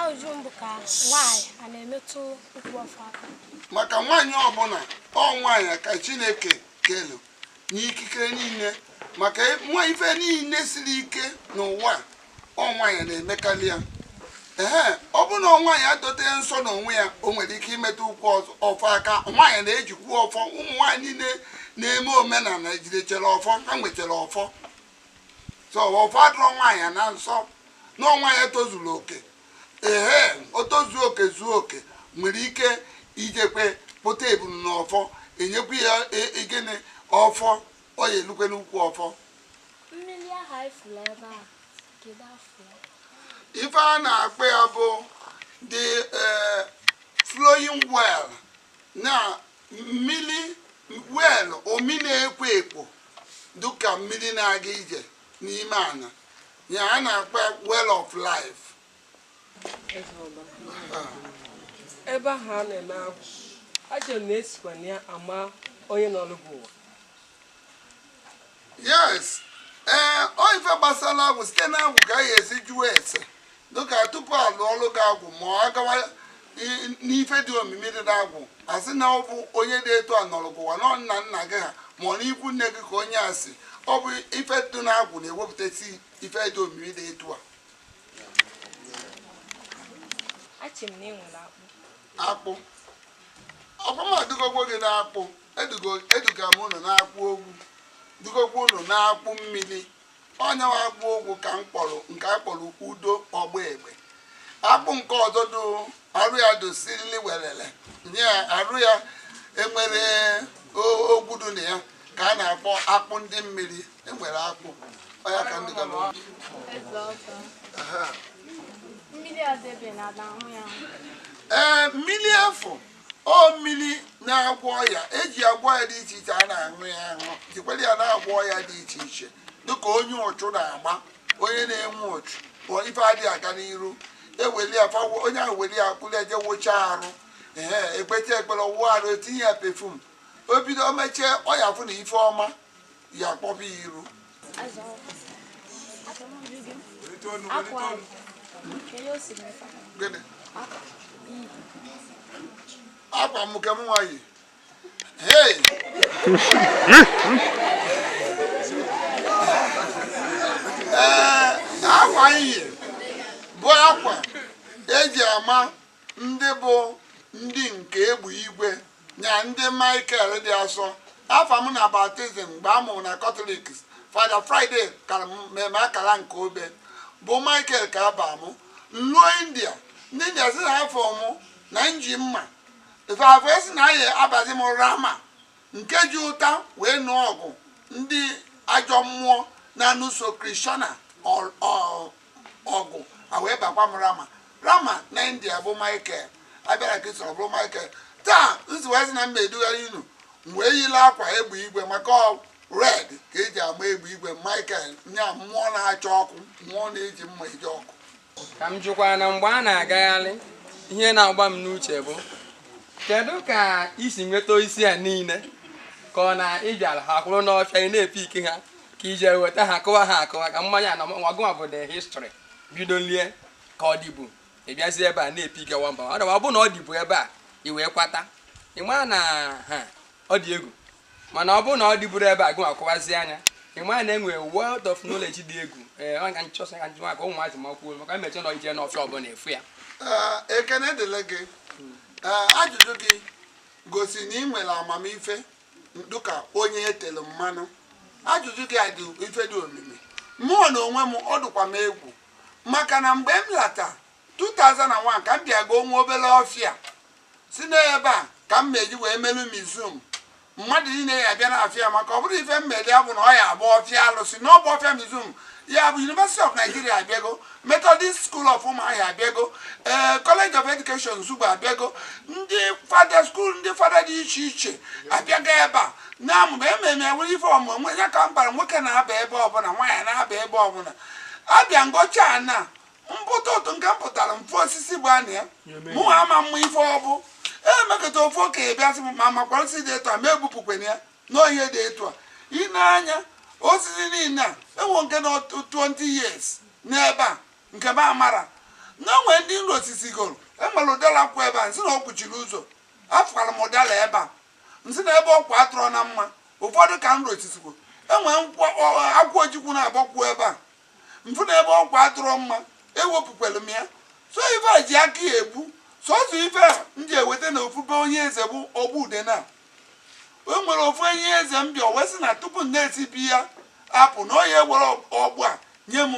ajụjụ m bụ ka nwaanyị a na-emetụ ukwu ọfọ aka maka nwaanyị ọbụla ọ nwaanyị ka chineke kelu n'ikikere niile maka na ife niile siri ike n'ụwa ọ nwaanyị na-emekarị ya ee ọ bụ na nwaanyị dote nsọ n'onwe ya o nwere ike imetụ ukwu ọfọ aka nwaanyị na-ejikwu ọfọ ụmụ nwaanyị niile na-eme omenala jidechara ọfọ ha nwechara ọfọ so ọfọ adịrọ nwaanyị na nsọ na nwaanyị tozuru oke ehe o tozuo oke zuo oke nwere ike ijekwe kpụta ebunu na ọfọ e nyekwu ya e- e- gịnị ọfọ ọ ya-elukwe n'ukwu ọfọ mmiri ahụ anyị fụrụ ebe a kedu afa ya? ife a na-akpọ ya bụ the eh, flowing well na mmiri well omi na-ekwo ekwo dịka mmiri na-aga ije n'ime ana ya a na-akpọ well of life ebe ahụ a na-eme agwụ a sị na e sikwa na ya ama onye nọlụ gị ụwa yes ee ọ ife gbasara agwụ site na agwụ ka a ya-esi jụọ ese dịka tupu a lụọlụ gị agwụ ma a gawa i- n'ife dị omimi dị n'agwụ a sị na ọ bụ onye dị etu a nọrọ gị ụwa na nna nna gị ha ma ọ n'ikwu nne gị ka onye a si ọ bụ ife dị n'agwụ na-ewepụtasị ife dị omimi dị etu a asị m na e nwere akpụ akpụ ọkwa m edugogwo gị n'akpụ eduga m ụnụ n'akpụ ogwu dugokwa ụnụ n'akpụ mmiri ọ nya wụ akpụ ogwu ka m kpọrọ nke a kpọrọ udo ọgba egbe akpụ nke ọzọ dị arụ ya dị sirili welele nye arụ ya enwerọ ogwu dị na ya ka a na-akpọ akpụ ndị mmiri e nwere akpụ ọ ya ka ndị gara ee mmiri afụ ọ mmili na-agwọ ọya eji agwọ ọya dị iche iche a na-aṅụ ya aṅụ jikwara ya na-agwọ ọya dị iche iche dịka onye uchu na-agba onye na-enwe uchu bụ ife adịghị aga n'iru eweli ya fawo onye ahụ weli ya kuru je wụcha arụ ee ekpecha ekpere wụọ arụ etinye ya perfume o bido o mechee ọ ya-afụ na ife ọma ya-akpọba ya iru akwa nke mụnwa yi akwa iyi bụ akwa eji ama ndị bụ ndị nke egbe igwe nya ndị Michael dị asọ afa m na baptizim mgbe a mụrụ na Katọlik Fada Friday ka mee m akala nke obe bụ Michael ka a ba m m luo India ndị India sị na afa m na m ji mma ife fa sị na a ya-abazi m Rama nke ji ụta wee nụọ ọgụ ndị ajọ mmụọ na-anụso Krishna ọgụ a wee bakwa m rama rama na india bụ michael abịara Kristo bụ michael taa nziwazi na m ma-edugharị unu wee yili akwa egbe igwe maka red ka eji ama egbe igwe michael nya mmụọ na-acha ọkụ mmụọ na-eji mma eje ọgụ ka m jụkwa na mgbe a na-agagharị ihe na-agba m n'uche bụ kedu ka i si nweta isi a niile ka ọ na ị bịara ha kwụrụ n'ọfịa ị na-epick ha ka i je weta ha kụwa ha akụwa ka mmanya na nwa gụnwa bụ the history bidoli ya ka ọ dịbu ị bịazi ebe a na-epick ya one by one ọ bụ na ọ dịbu ebe a i wee kwata ị maa na ha ọ dị egwu mana ọ bụrụ na ọ dịburọ ebe a gụnwa kụwazie anya ị maa na enwere world of knowledge dị egwu ee ọ ka m chọsa ka m jụwa ka ụmụazị makwuo maka emecha na ije n'ọfịa ọbụla e fụ ya Ee, ekene dịlị gị Ee, ajụjụ gị gosi na ị nwere amamife dịka onye etelu mmanụ ajụjụ gị a dị ife dị omimi mụọ na onwe m ọ dụkwa m egwu maka na mgbe m lata 2001 ka m bịa goo nwa obere ọfịa si n'ebe a ka m ma-eji wee melu museum mmadụ niile ya-abịa n'ọfịa maka ọ bụrọ ife m meli ya bụ na ọ ya-abụ ọfịa alụsị na ọ bụ ọfịa museum ya bụ University of Nigeria abịago Methodist School of Umuahia abịago ee eh, College of Education Nsugbe abịago ndị fada school ndị fada dị iche iche abịago ebe a na-amụma ememe ewere ife ọmụmụ ya ka m bara nwoke na-aba ebe ọbụla nwaanyị na-aba ebe ọbụla a bịa m gocha na mpụta ụtụtụ nke m pụtara m fụ osisi bụ anị ya mụ ama mụ ife ọ bụ e mekata ofu okenye bịa sị m ma makwara osisi dị etu a ma egbupụkwana ya nọ ihe dị etu a i nee anya osisi niile a enwe nke na 20 years n'ebe a nke m amara na enwe ndị n rosisigoro enwere ụdala kwụ ebe a n sị na ọ kwụchiri ụzọ afụkwara m ụdala ebe a n sị na ebe ọ kwụ adịrọ mma ụfọdụ ka n rosisigo enwe akwụ ojukwu na-agbakwuo ebe a m fụ na ebe ọ kwụ adịrọ mma ewepụkwere m ya sọ ife ji aka ya epu sọsọ ife a m ji eweta na ofu be onye eze bụ ọgbụ dị na o nwere ofu onye eze m bịa wee sị na tupu m na-esi be ya apụ na ọ ya-ewere ọgbụ a nye m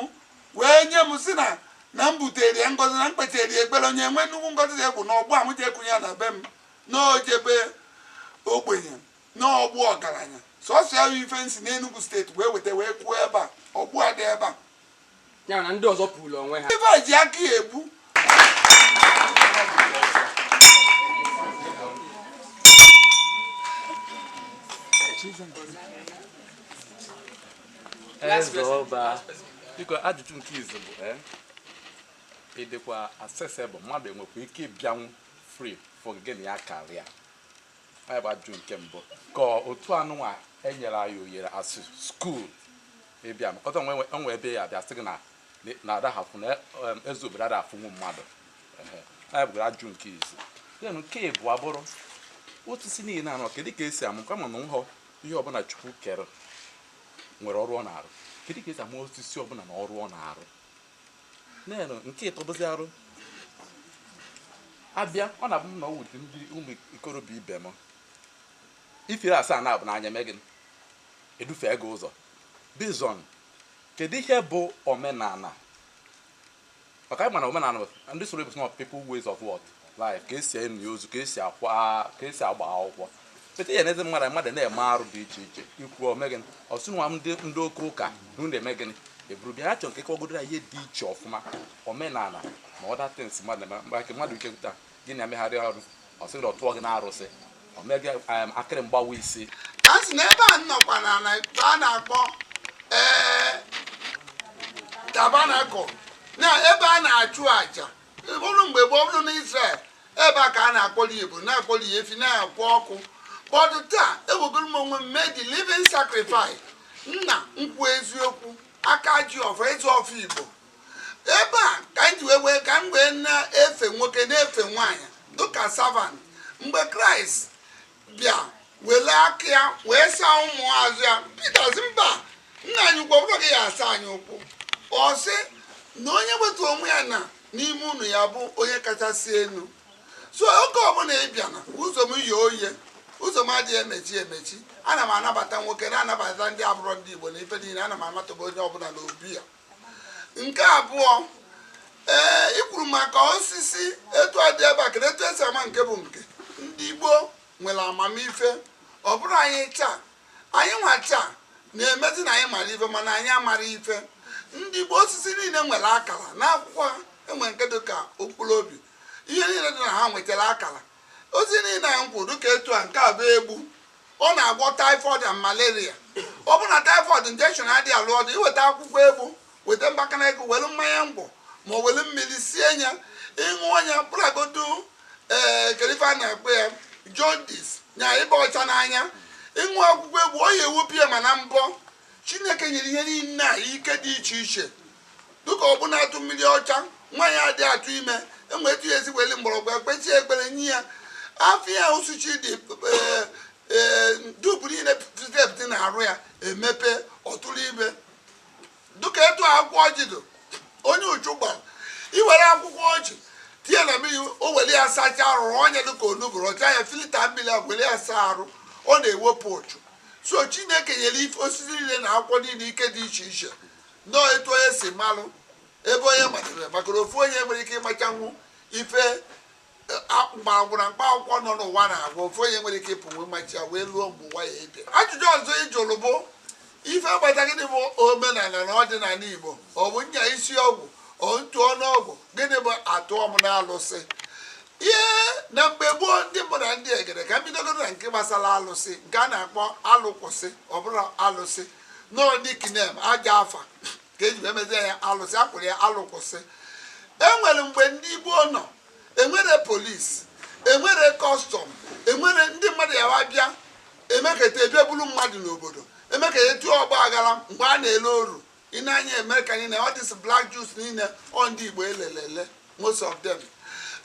wee nye m sị na na m butere ya ngozi na m kpetere ya ekpere onye nwee nnukwu ngozi dị egwu na ọgbụ a m jee kụnye ya na be m na o jee be ogbenye na ọ bụ ọgaranya sọsọ ya bụ ife n si n'Enugu steeti wee weta wee kụọ ebe a ọgbụ a dị ebe a ya na ndị ọzọ puru onwe ha ife ji aka ya epu eze ọba biko ajụjụ nke izizi bụ eh, ị dịkwa accessible mmadụ enwekwa ike ịbịanwu free fụ gị n'anya karịa anyị bụ ajụjụ nke mbụ ka otu anụnwa enyere anyị ohere as school ịbịa mkọta onwe e nwee ebe a ya-abịa sị gị na na adaha afụ na em, eze obodo ada afụnwu mmadụ Ehe. anyị bụgara ajụjụ nke izizi then nke ịbụa abụrụ osisi niile a nọ kedu ka esi ama kama na nhọ ihe ọbụla chukwu kere nwere ọrụ ọ na-arụ kedu ka esi ama osisi ọbụla na ọrụ ọ na-arụ nenu nke ịtọ bụzi arụ abịa ọ na-abụ m na ọwụ ụdị ndị ụmụ ikorobịa ibe m Ifiri asaa na-abụ na ọ ya-eme gịnị? Edufee gị ụzọ. Based on kedu ihe bụ omenala? Maka anyị ma na omenala bụ ndị soro bụ not people ways of what life ka esi eni ozu ka esi akwa ka esi agba akwụkwọ pete ya n'ezi mmadụ mmadụ na-eme arụ dị iche iche ikwu o mee gịnị ọsụ nwa m ndị ndị oke ụka na unu eme gịnị eburu bịa ha chọrọ ka ị kọgodo ya ihe dị iche ọfụma omenala na other things mmadụ na-eme mgbe aka mmadụ ike taa gị na megharịa ọrụ ọ sị na ọ tụọ gị n'arụsị ọ mee gị em, okiri mgbawa isi a sị na ebe a n nọkwa na na ebe a na-akpọ ee tabernacle na ebe a na-achụ aja bụrụ mgbe gboo bụrụ na Israel ebe a ka a na-akpọli ebu na-akpọli efi na-akpọ ọkụ but taa ewegoro m onwe m mee the living sacrifice nna m ukwu eziokwu aka ji ọfọ eze ọfọ igbo ebe a ka m ji wee ka m wee na-efe nwoke na-efe nwaanyị dịka savant mgbe kraịst bịa wele aka ya wee saa ụmụazụ ya pita sị mba nna anyị ukwu ọ bụrọ gị ya-asa anyị ụkwụ ọ sị na onye wetuo onwe ya ana n'ime unu ya bụ onye kachasị elu so oge ọbụla ị bịa na ụzọ m ye oye ụzọ m adịghị emechi emechi ana m anabata nwoke na-anabata ndị abụrọ ndị igbo na ife niile ana m amataba onye ọbụla n'obi ya nke abụọ ee ị kwuru maka osisi etu a dị ebe a kedu etu esi ama nke bụ nke ndị Igbo nwere amamife ọ bụrụ anyị taa anyị nwa taa na-emezi na anyị mara ife mana anyị amarọ ife ndị Igbo osisi niile nwere akara n'akwụkwọ ha e nwee nke dị ka mkpụrụ obi ihe niile dị na ha nwechara akara ozi niile anyị kwuru dịka etu a nke a bụ egbu ọ na-agwọ typhoid and malaria ọ bụrụ na typhoid injection adịghị alụ ọlụ iweta akwụkwọ egbu weta mgbakana egbu were mmanya ngwọ ma ọ were mmiri sie ya ịṅụọ ya bụragodu ee kedụ ife a na-akpọ ya jondis nya ịba ọcha n'anya ịṅụ akwụkwọ egbu ọ ya ewepụ ya ma na mbọ chineke nyere ihe niile a ike dị iche iche dịka ọbụna atụ mmiri ọcha nwaanyị adị atụ ime enwee etu ya esi weli mgbọrọgwụ ekpesie ekpere nye ya afọ ya asụchie dị ee, ee, dubu niile pụtep dị na-arụ ya emepe ọ tụrụ ime dịka etu akwụkwọ ọjị dị onye uchu gbara iwere akwụkwọ ọjị tinye na mmiri o were ya sacha arụ ọnya dịka onugbu ọcha ya filita mmiri a were ya saa arụ ọ na-ewepụ ụchụ so chineke nyere ife osisi niile na akwụkwọ niile ike dị iche iche nọọ etu onye si malụ ebe onye matara maka ofu onye enwerọ ike ịmachanwu ife mgbọrọgwụ na mkpa akwụkwọ nọ n'ụwa na-agwọ ofu onye enwerọ ike ịpụnwu machaa ya wee luo mgbe ụwa ya-ebi ajụjụ ọzọ ị jụrụ bụ ife agbata gịnị bụ omenala na ọdịnala igbo ọ bụ nya isi ọgwụ otu ọnụọgwụ gịnị bụ atụọ m n'alụsị ihe na mgbe gboo ndị mbụ na ndị egede ka m bidogodu na nke gbasara alụsị nke a na-akpọ alụkwụsị ọ bụrụ alụsị nọọ dikinem aja afa ka eji wee mezie ya alụsị akwụrụ ya alụkwụsị enwere mgbe ndị igbo nọ enwerọ polisi enwerọ kọstọm enwere ndị mmadụ ya wa bịa emeketa e bịa bulu mmadụ n'obodo emeketa etu ọgbaaghara mgbe a na-ele oru ị nee anya Amerịka niile all these black Jews niile ọ ndị Igbo e lele ele most of them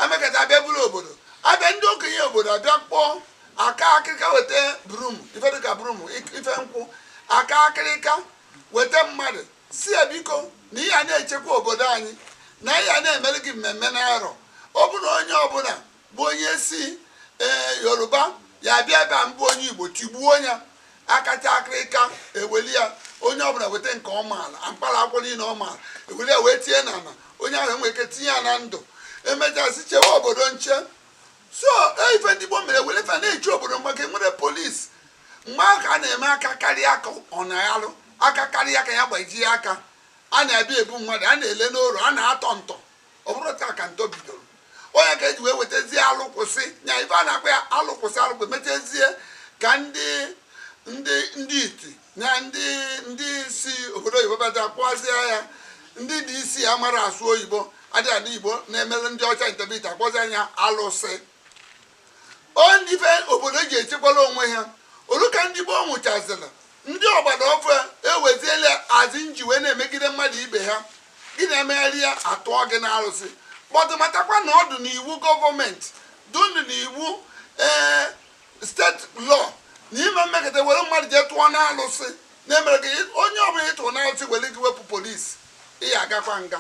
emekata abịa buru obodo abịa ndị okenye obodo abịa kpọọ aka akịrịka weta brum ife dịka brum ife nkwụ aka akịrịka weta mmadụ sị ya biko na ị ya na-echekwa obodo anyị na a ya na-emere gị mmemme na arọ ọ bụrụ onye ọbụla bụ onye si ee yoruba ya bịa ebe a mọbụ onye igbo tigbuo ya akpata akịrịka eweli ya onye ọbụla weta nke ọ maala mkpara akwụkwọ niile ọ maala eweli ya wee tinye n'ala onye ahụ enwere ike tinye ya na ndụ emechasị chewe obodo nche so e, ife ndị gboo mere were na-eche obodo mgbe aka enwerọ polisi mgbe ahụ ka a na-eme aka karịa aka ọ na-alụ aka karịa aka ya gbajie aka a na-abịa ebu mmadụ a na-ele n'oru a na-atọ ntọ ọ bụrọ taa ka ntọ bidoro ọ ya ka eji wee wetazie alụkwụsị nya ife a na-akpọ ya alụkwụsị alụkwụsị metezie ka ndị ndị ndị iti na ndị ndị si obodo oyibo bata kpọzie ya ndị dị isi ya mara asụ oyibo adịghị adị igbo na-emere ndị ọcha interpret akpọzi nya alụsị ọ ndị ife obodo ji echekwala onwe ha olu ka ndị gboo nwụchazịla ndị ọgbara ọfụụ ewezie alụsị eji wee na-emegide mmadụ ibe ha gị na ya megharịa atụọ gị n'arụsị but matakwa na ọ dụ n'iwu gọọmenti dụnụ n'iwu ee state law na ị meketa were mmadụ jee tụọ n'alụsị na-emere gị onye ọbụla ị tụrụ n'alụsị were gị wepụ polisi ị ya agakwa nga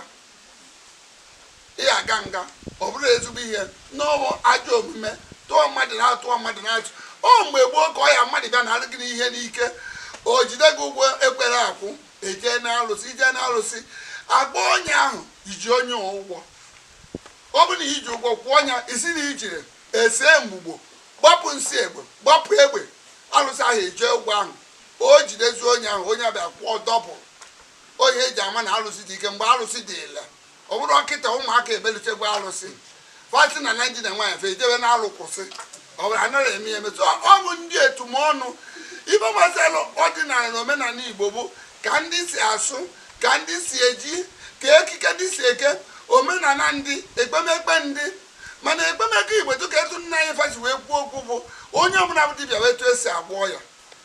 ị ya aga nga ọ bụrọ ezigbo ihe na ọ wụ ajọ omume tụọ mmadụ na atụọ mmadụ na alụsị ọ mgbe gboo ka ọ ya mmadụ bịa nara gị ihe n'ike o jide gị ụgwọ ekwere akwụ ejee na alụsị ijee na alụsị agba onye ahụ iji onye ụgwọ ọ bụ na iji ụgwọ kwụọ nya ị sị na i jirọ ese mgbugbo gbapụ nsị egbe gbapụ egbe alụsị ahụ ejee ụgwọ ahụ o jidezie onye ahụ onye ahụ abịa kwụọ double ọ ihe eji ama na alụsị dị ike mgbe alụsị dị ile ọ bụrọ kịta ụmụaka ebelitegwu alụsị fati na naiji na nwaanyị fe ejebe na alụ kwụsị ọ bụrụ anaghị eme ya emetụ ọ bụ ndị etumọnụ ife gbasara ọdịnala na omenala igbo bụ ka ndị si asụ ka ndị si eji ka ekike ndị si eke omenala ndị ekpemekpe ndị mana ekpemekpe igbo dịka etu nna anyị fa si wee kwuo okwu bụ onye ọbụla bụ dibịa wee etu esi agwọ ya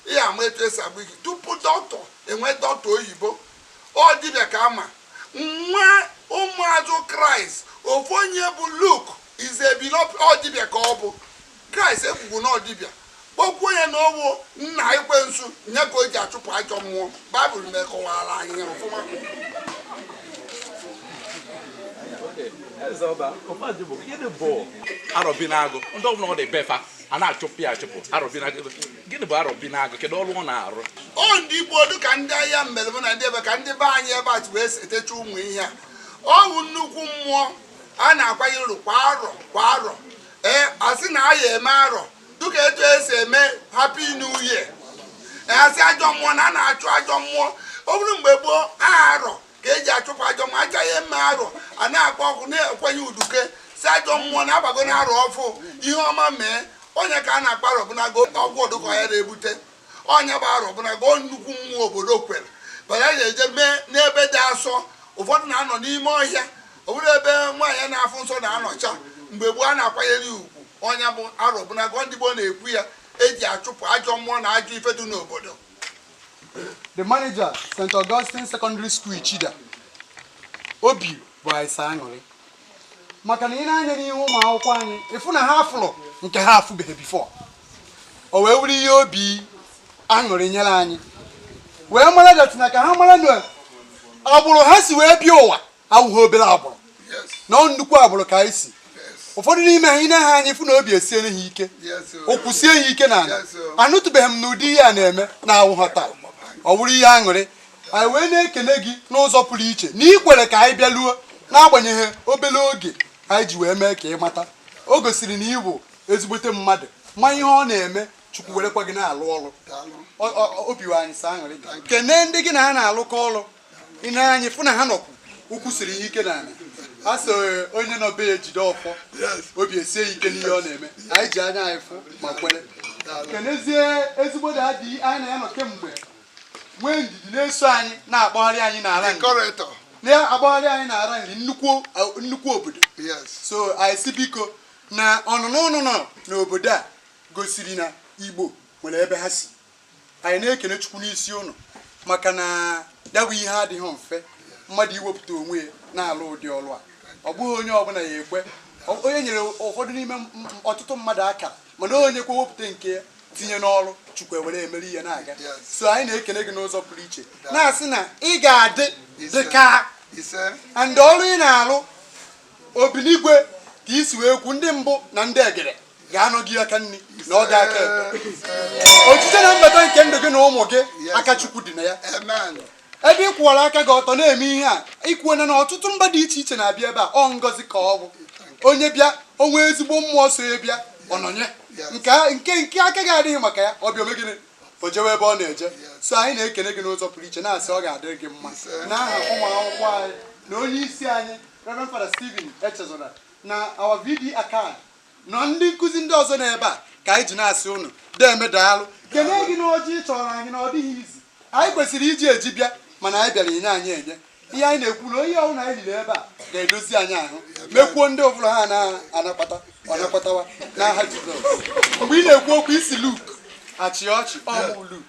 ị ya ama etu esi agwọ ife tupu dọkịta enwee dọkịta oyibo ọ dibịa ka ama nwa ụmụazụ kraịst ofu onye bụ luk izebilo ọ dibịa ka ọ bụ kraịst ekwukwu na ọ dibịa kpọkwuo ya na ọ wụ nna ekwensu nya ka o ji achụpụ ajọ mmụọ baịbụl mekọwara anyị ya ọfụma gịnị bụ arọbinagụ ndị ọbụla ọ dị be fa a na-achụpụ ya achụpụ arọbinagụ gịnị bụ arọbinagụ kedu ọrụ ọ na-arụ ọ ndị igbo ọ dụ ka ndị ahịa mmelebụ na ndị ebe ka ndị be anyị ebe a ji wee etecha ụmụ ihe a ọ bụ nnukwu mmụọ a na-akwanye uru kwa arọ kwa arọ ee asị na a ya eme arọ dịka etu esi eme happy new year asị ajọ mmụọ na a na-achụ ajọ mmụọ ọ bụrụ mgbe gboo arọ ka eji achụpụ ajọ mmụọ a ja-eme arọ a na-akpọ ọkụ na-ekwenye uduke sị ajọ mmụọ na-agbago na arọ ọfụ ihe ọma mee onye ka a na-akpọ Arọbụnagụ ọgwụ ọdụkọ ya na-ebute onye bụ Arọbụnagụ nnukwu mmụọ obodo kwere bara ya eje mee n'ebe dị asọ ụfọdụ na-anọ n'ime ọhịa ọ bụrụ ebe nwaanyị na-afụ nsọ na-anọcha mgbe gboo a na-akwanyere ya ugwu onye bụ Arọbụnagụ ndị gboo na-ekwu ya eji achụpụ ajọ mmụọ na ajọ ife dị n'obodo the manager st augustine secondary school ichida obi bụ anyị sọ aṅụrị maka na ine anya n'ihu ụmụ akwụkwọ anyị ịfụ na ha afụlụ nke ha afụbeghị before o wee wụrụ ihe obi aṅụrị nyere anyị wee mara datina ka ha mara na agbụrụ ha si wee bịa ụwa awụghị obere agbụrụ na ọ nnukwu agbụrụ ka anyị si ụfọdụ n'ime ha ine ha anya ịfụ na obi esiere ha ike ụkwụ sie ha ike n'ala anụtụbeghị m na ụdị ihe a na-eme na awụghị taa ọ wụrụ ihe aṅụrị anyị wee na-ekene gị n'ụzọ pụrụ iche na ị kwere ka anyị bịaluo n'agbanyeghị obere oge anyị ji wee mee ka ị mata o gosiri na ị bụ ezigbote mmadụ ma ihe ọ na-eme chukwu werekwa gị na-alụ ọrụ obi wụ anyị sọ aṅụrị kene ndị gị na ha na-alụkọ ọrụ ine anya ịfụ na ha nọkwu ụkwụ siri ha ike n'ala a sị onye nọ be ya ejide ọfọ obi esie ike n'ihe ọ na-eme anyị ji anya anyị fụ ma kwere kenezie ezigbo daddy anyị na ya nọ kemgbe nwee ndidi na-eso anyị na-akpọgharị anyị n'ala na-akpọgharị anyị n'ala Nri nnukwu obodo so anyị sị biko na ọnụnọ ụnụ nọ n'obodo a gosiri na Igbo nwere ebe ha si anyị na-ekene chukwu n'isi ụnụ maka na ya bụ ihe adịghị mfe mmadụ iwepụta onwe ya na-alụ ụdị ọrụ a ọ bụghị onye ọbụla ya-ekwe Ọ- onye nyere ụfọdụ n'ime m- m- ọtụtụ mmadụ akara mana onye kwa wepụta nke ya tinye n'ọrụ chukwu ewere emere ya na-aga so anyị na-ekene gị n'ụzọ pụrụ iche na-asị na ị ga-adị dị ka and ọrụ ị na-alụ Obinigwe ka i si wee kwu ndị mbụ na ndị egede ga-anọ gị aka nri nọọ gị aka ekpe ojije na mbata nke ndụ gị na ụmụ gị aka chukwu dị na ya ebe ị kwụwara aka gị ọtọ na-eme ihe a i kwuo na ọtụtụ mba dị iche iche na-abịa ebe a ọ ngọzi ka ọ bụ onye bịa o nwee ezigbo mmụọ so ya bịa ọnọnye nke nke aka gị adịghị maka ya ọ bịa o mee gịnị o jewe ebe ọ na-eje so anyị na-ekene gị n'ụzọ pụrụ iche na-asị ọ ga-adịrị gị mma n'aha ụmụ akwụkwọ anyị na onye isi anyị Reverend Father Stephen Echezona na our VP Acad na ndị nkụzi ndị ọzọ n'ebe a ka anyị ji na-asị ụnụ deme daalụ kene gị na ọjị ị chọrọ anyị na ọ dịghị easy anyị kwesịrị iji eji bịa mana anyị bịara i nye anyị enye ihe anyị na-ekwu na ihe ọbụla anyị liri ebe a ga-edozi anyị ahụ mekwuo ndị ọbụla ha na-akpata na-akpatawa n'aha Jizọs mgbe ị na-ekwu okwu ị sị Luk a chịa ọchị ọ wụ Luk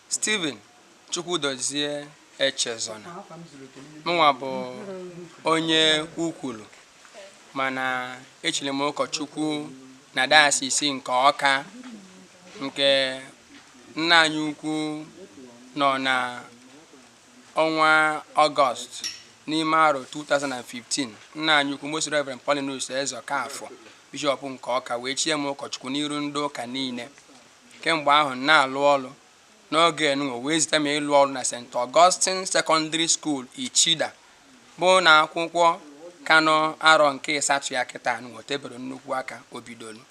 Stephen Chukwudozie Echezona mụnwa bụ onye Ukwulu mana e chiri m ụkọchukwu na dayọsiisi nke Ọka nke nna anyị ukwu nọ na ọnwa Ọgọst n'ime arọ 2015 nna anyị ukwu Most Reverend Paulinus Ezeokafor bishọp nke Ọka wee chie m ụkọchukwu n'iru ndị ụka niile Kemgbe ahụ, m na-alụ ọrụ n'oge a nụnwa e wee zite m ịlụ ọrụ na St. Augustine Secondary School, Ichida, bụ ụnọ akwụkwọ ka nọ arọ nke ịsatọ ya kịta a nụnwa o tebero nnukwu aka o bidoro.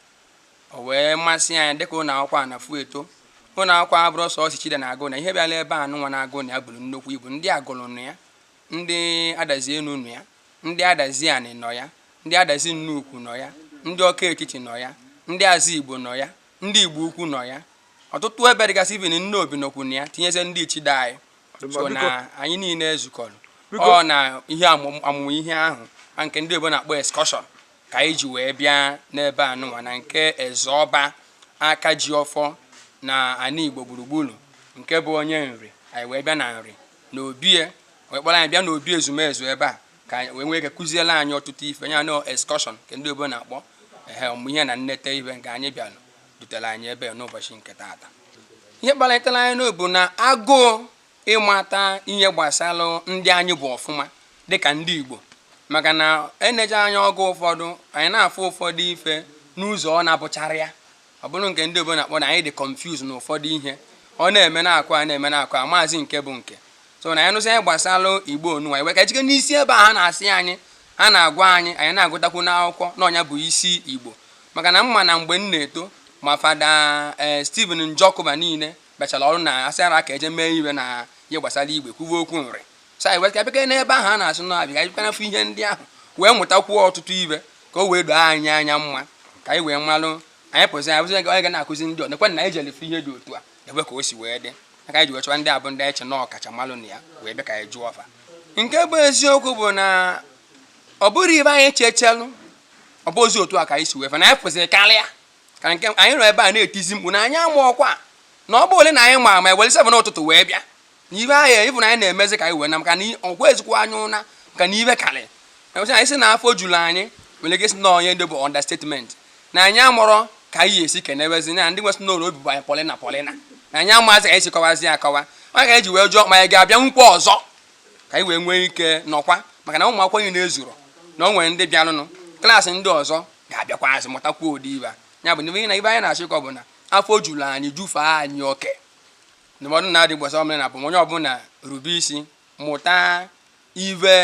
O wee masị anyị dịka ụlọ akwụkwọ a na-afụ eto ụlọ akwụkwọ abụrọ sọsọ Ichida na-agụ na ihe bịara ebe a nụnwa na-agụ na ya buru nnukwu ibu ndị Agụlụ nọ ya ndị Adazi Enu nọ ya ndị Adazi Anị nọ ya ndị Adazi Nnukwu nọ ya ndị Ọka Etiti nọ ya ndị Azigbo nọ ya ndị Igbo Ukwu nọ ya ọtụtụ ebe dịgasị even Nnobi nọkwu na ya tinyezie ndị Ichida anyị so na anyị niile ezukọrọ ọ na ihe amụmụ ihe ahụ a nke ndị oyibo na-akpọ excursion ka anyị ji wee bịa n'ebe a nụnwa na nke Ezeọba Akajiọfọ na ana Igbo gburugburu nke bụ onye Nri anyị wee bịa na Nri na obi e wee kpọrọ anyị bịa n'obi ezumezu ebe a ka anyị wee nwee ike kụziere anyị ọtụtụ ife ya na excursion nke ndị Igbo na-akpọ ehe ọmụmụ ihe na nneta ife nke anyị bịara dutere anyị ebe a n'ụbọchị nke taata ihe kpalitere anyị na ọ bụ na agụụ ịmata ihe gbasara ndị anyị bụ ọfụma dịka ndị Igbo maka na e neje anya oge ụfọdụ anyị na-afụ ụfọdụ ife n'ụzọ ọ na-abụchara ya ọ bụrụ nke ndị oyibo na-akpọ na anyị dị confused na ụfọdụ ihe a na-eme na-akọ a na-eme na-akọ amazị nke bụ nke so na anyị nụsị ihe gbasara Igbo a nụnwa anyị wee ka jike n'isi ebe a ha na-asị anyị ha na-agwa anyị anyị na-agụtakwu n'akwụkwọ na ọ nya bụ isi Igbo maka na m ma na mgbe m na-eto ma Fada ee Stephen Njọkụ fa niile bịachara ọrụ na asị ara ka e je mee ife na ihe gbasara Igbo e kwuwe okwu Nri so anyị wee ka bịa n'ebe ahụ a na-asị na a bịa bịa na-afụ ihe ndị ahụ wee mụtakwuo ọtụtụ ife ka o wee doo anyị anya mma ka anyị wee malụ anyị pụzi anyị bụzi onye ga na-akụzi ndị ọnekwe na anyị jere ife ihe dị otu a ebe ka o si wee dị aka anyị ji wee chọwa ndị abụ ndị anyị che na ọkacha malụ na ya wee bịa ka anyị jụọ fa nke bụ eziokwu bụ na ọ bụrọ ife anyị chechelụ ọ bụzi otu a ka anyị si wee fụ na anyị fụziri karịa ka nke anyị nọ ebe a na-etizi mkpu na anyị amarọkwa na ọ bụrụ na anyị ma ma ewere seven n'ụtụtụ wee bịa na ibe ahụ ịbụ na anyị na-emezi ka anyị wee na maka na ọgwa ezikwa anyị ụna maka na ife karị enwecha anyị si na afọ juru anyị nwere ike si na onye ndị bụ understatement na anyị amarọ ka anyị esi kenebezi na ndị nwesị n'ụlọ obi bụ anyị polina polina na anyị amazi ka anyị si kọwazi akọwa ọ nya ka anyị ji wee jụọ ma anyị ga-abịakwa ọzọ ka anyị wee nwee ike nọkwa maka na ụmụ akwụkwọ niile ezuro na o nwere ndị bịarọnụ klaasị ndị ọzọ ga-abịakwazi mụtakwuo ụdị ife ya bụ na ife anyị na-achọ ịkọ bụ na afọ juru anyị jufee anyị oke ndụmọdụ na-adị gbasara omenala bụ onye ọbụla rube isi mụta ive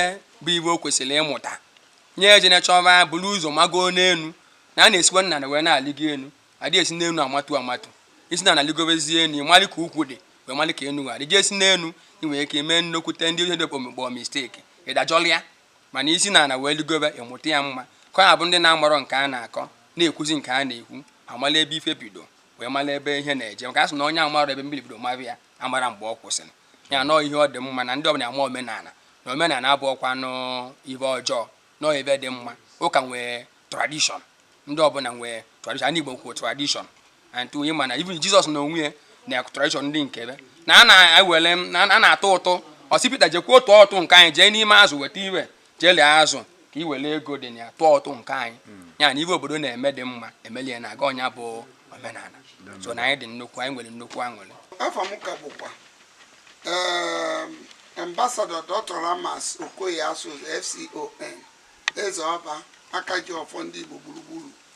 bụ ive o kwesịrị ịmụta ya ejene chọba buru ụzọ mago n'elu na a na-esikwa n'ana wee na-alịgo elu adị esi n'elu amatu amatu i si n'ana lịgobezie elu ị malị ka ukwu dị wee malị ka enu dị i si n'elu ị nwere ike mee nnukwute ndị ọcha na-akpọ mistake ị dajọlị ya mana i si n'ana wee lịgobe ị mụta ya mma ka ọ na-abụ ndị na-amarọ nke a na-akọ na-ekwuzi nke a na-ekwu amala ebe ife bido wee mara ebe ihe na-eje maka a sị na onye amarọ ebe mmiri bido mara ya amarọ mgbe ọ kwụsịrị ya na ọ ihe dị mma na ndị ọbụla ama omenala na omenala abụrọkwanụ ive ọjọọ na ọ ive dị mma ụka nwee tradition ndị ọbụla nwee tradition ndị Igbo kwuo tradition and ị ma na even Jizọs n'onwe ya na tradition ndị nke ve na a na-ewere na a na-atụ ụtụ ọ sị Pita jekwa tụọ ụtụ nke anyị jee n'ime azụ weta ive jeli azụ ka i were ego dị na ya tụọ ụtụ nke anyị hmm. ya na ihe obodo na-eme dị mma e melie ya na-aga ọ nya bụ omenala so na anyị dị nnukwu anyị nwere nnukwu aṅụrị ava m ka bụkwa ehm, Ambassador Dr Ramas Okoye Asuzu FCON Ezeọba Akajiọfọ ndị Igbo gburugburu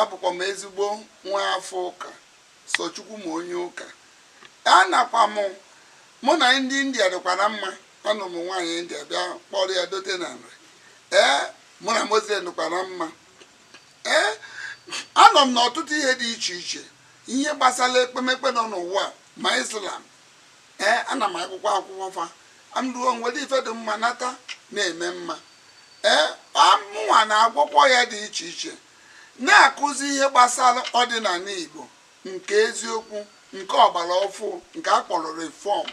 Abụkwa m ezigbo nwa afọ ụka, sọ Chukwu ma onye ụka. Anakwa m mụ na ndị India dịkwa na mma, anụ m nwaanyị India bịa kpọrọ ya dote na Nri. Ee, mụ na Muslim dịkwa na mma. Ee, anọ m n'ọtụtụ ihe dị iche iche, ihe gbasara ekpemekpe nọ n'ụwa ma Islam Ee, ana m agụkwa akwụkwọ fa. M gụọ m were ife dị mma nata na-eme mma. Ee, mụnwa na-agwọkwa ọya dị iche iche, na-akụzi ihe gbasara ọdịnala Igbo nke eziokwu, nke ọgbara ọfụụ, nke a kpọrọ reform.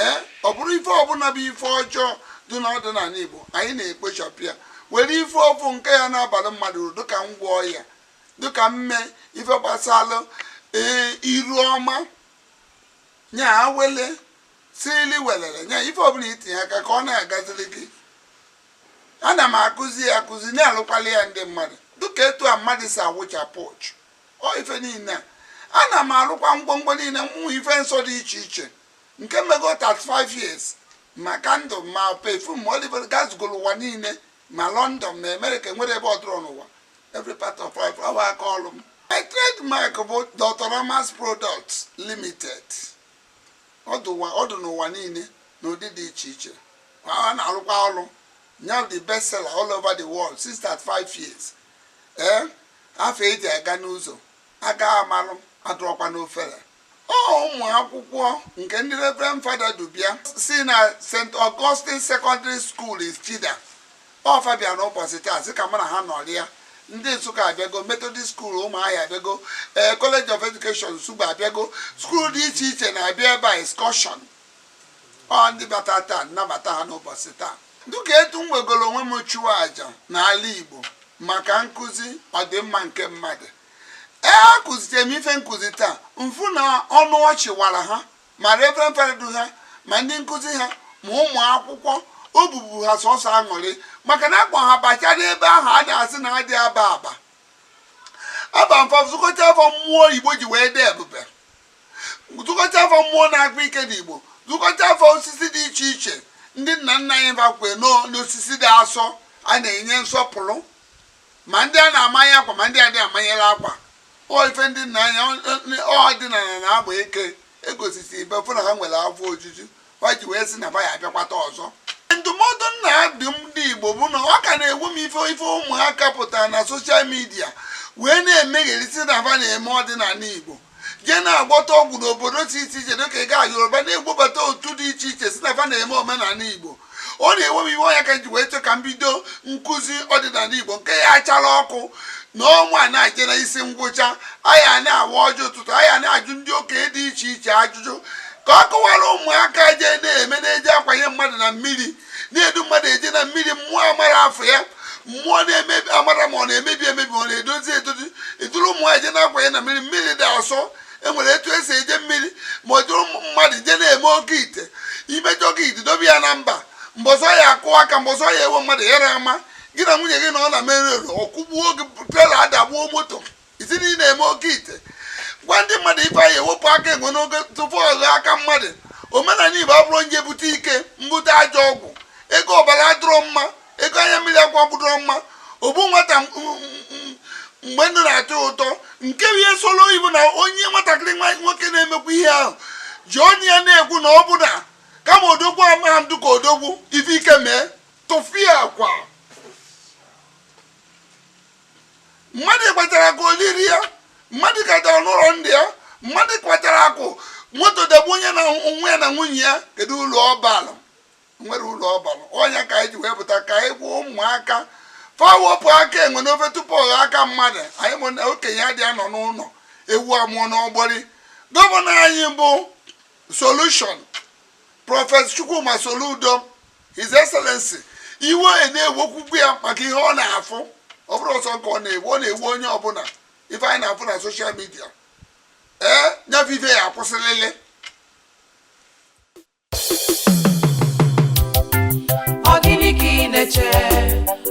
Ee, ọ bụrụ ife ọbụla bụ ife ọjọọ dị n'ọdịnala Igbo, anyị na-ekpochapụ ya, were ife ọfụụ nke ya na-abara mmadụ uru dịka ngwọ ọya, dịka mme ife gbasara ee, iru ọma nya awele sirili welele nya ife ọbụla i tinye aka ka ọ na-agaziri gị ana m akụzi ya akụzi na-alụkwalị ya ndị mmadụ dịka etu a mmadụ si awụchapụ uchu ọ ife niile a ana m alụkwa ngwongwo niile bụ ife nsọ dị iche iche nke m mego 35 years ma candle ma perfume olive oil gazugoro ụwa niile ma London ma America enwerọ ebe ọ dụrọ n'ụwa every part of life ọ bụ aka ọrụ m my trademark bụ Dr Ramas Products Limited ọ dụ n'ụwa niile n'ụdị dị iche iche ha na-arụkwa ọrụ nya the best seller all over the world since 35 years ee eh, afa e ji aga n'ụzọ aga amalụ adụrọkwa n'ofere ọ ụmụ akwụkwọ nke ndị Reverend Fada du bịa si na St. Augustine Secondary School Ichida ọ fa bịa n'ụbọchị taa sị ka mụ na ha nọrịa ndị Nsụka abịago Methodist School Ụmụahịa abịago ee College of Education Nsugbe abịago skuul dị iche iche na-abịa ebe a excursion ọ ndị bata taa m nabata ha n'ụbọchị taa dịka etu m wegoro onwe m chụọ aja n'ala Igbo maka nkụzi ọdịmma nke mmadụ ee akụzitere m ife nkụzi taa m fụ na ọnụ ọchị wara ha ma reverend fada du ha ma ndị nkụzi ha ma ụmụ akwụkwọ obi bụ ha sọsọ aṅụrị maka na akpọ ha bachara ebe ahụ a na-asị na adị aba aba aba fa zukọta afụ mmụọ igbo ji wee dị ebube zukọta afụ mmụọ na-akpa ike dị igbo zukọta afụ osisi dị iche iche ndị nna nna anyị ba kwe n'osisi dị asọ a na-enye nsọpụrụ ma ndị a na-amanye akwa ma ndị a dị amanyela akwa ọ ife ndị nna anyị ọdịnala na-akpa ike egosisi ibe fụ na ha nwere afọ ojuju ha ji wee sị na ba ya abịakwata ọzọ ndụmọdụ m na-adụ ndị igbo bụ na ọ ka na-ewe m iwe ife ụmụaka pụtara na soshal midia wee na-emegheri sị na ba na-eme ọdịnala igbo jee na-agwọta ọgwụ n'obodo dị iche iche dịka ị gaa yoruba na-ebubata otu dị iche iche sị na ba na-eme omenala igbo ọ na-ewe m iwe ọ nya ka m ji wee chọọ ka m bido nkụzi ọdịnala igbo nke ya achara ọkụ na ọnwa na-eje na isi ngwụcha anyị na-awa ọjị ụtụtụ anyị na-ajụ ndị okenye dị iche iche ajụjụ ka ọ kọwara ụmụaka je na-eme na-eje akwanye mmadụ na mmiri na-edu mmadụ eje na mmiri mmụọ amarọ afa ya mmụọ na-emebi amarọ ma ọ na-emebi emebi ọ na-edozi edozi eduru ụmụ nwaanyị je na-akwanye na mmiri mmiri dị asọ enwere etu esi eje mmiri ma ọ duru mmadụ je na-eme oke ite imejọ oke ite dobe ya na mba mbọsị ọ ya-akụ aka mbọsị ọ ya-ewe mmadụ ya na ama gị na nwunye gị na ọ na mere ọkwụgbuo oge trela adagbuo moto ị sị na ị na-eme oke ite gwa ndị mmadụ ibe anyị ewepụ aka enwe n'ofe tupu ọ ghọọ aka mmadụ omenala igbo abụrọ onye bute ike mbute ajọ ọgwụ ego ọbara adụrọ mma ego anya mmiri akwa bụdụrọ mma ogbu nwata mgbe ndụ na-atọ ụtọ nke bụ ihe solo oyibo na onye nwatakịrị nwa nwoke na-emekwa ihe ahụ ji ọnụ ya na-ekwu na ọ bụ na kama odogwu amaghị dị ka odogwu ife ike mee tụfiakwa mmadụ kpatara akụ o lirọ ya mmadụ kpatara n'ụlọ ndị ya mmadụ kpatara akụ moto dagbue onye nwe ya na nwunye ya kedu ulu ọ balụ o nwerọ ulu ọ balụ ọ nya ka anyị ji wee pụta ka anyị gwa ụmụaka fa wepụ aka enwe n'ofe tupu ọ ghọọ aka mmadụ anyị ma na okenye adị anọ n'ụlọ ewu amụọ n'ọgbụrị gọvanọ anyị bụ solushon prọfesọ chukwuma soludo His Excellency iwe na-ewekwukwu ya maka ihe ọ na-afụ ọ bụrọ sọ nya ka ọ na-ewe ọ na-ewe onye ọbụla ife anyị na-afụ na social media ee nya bụ ife ya-akwụsịlịlị ọ gịnị ka ị na-eche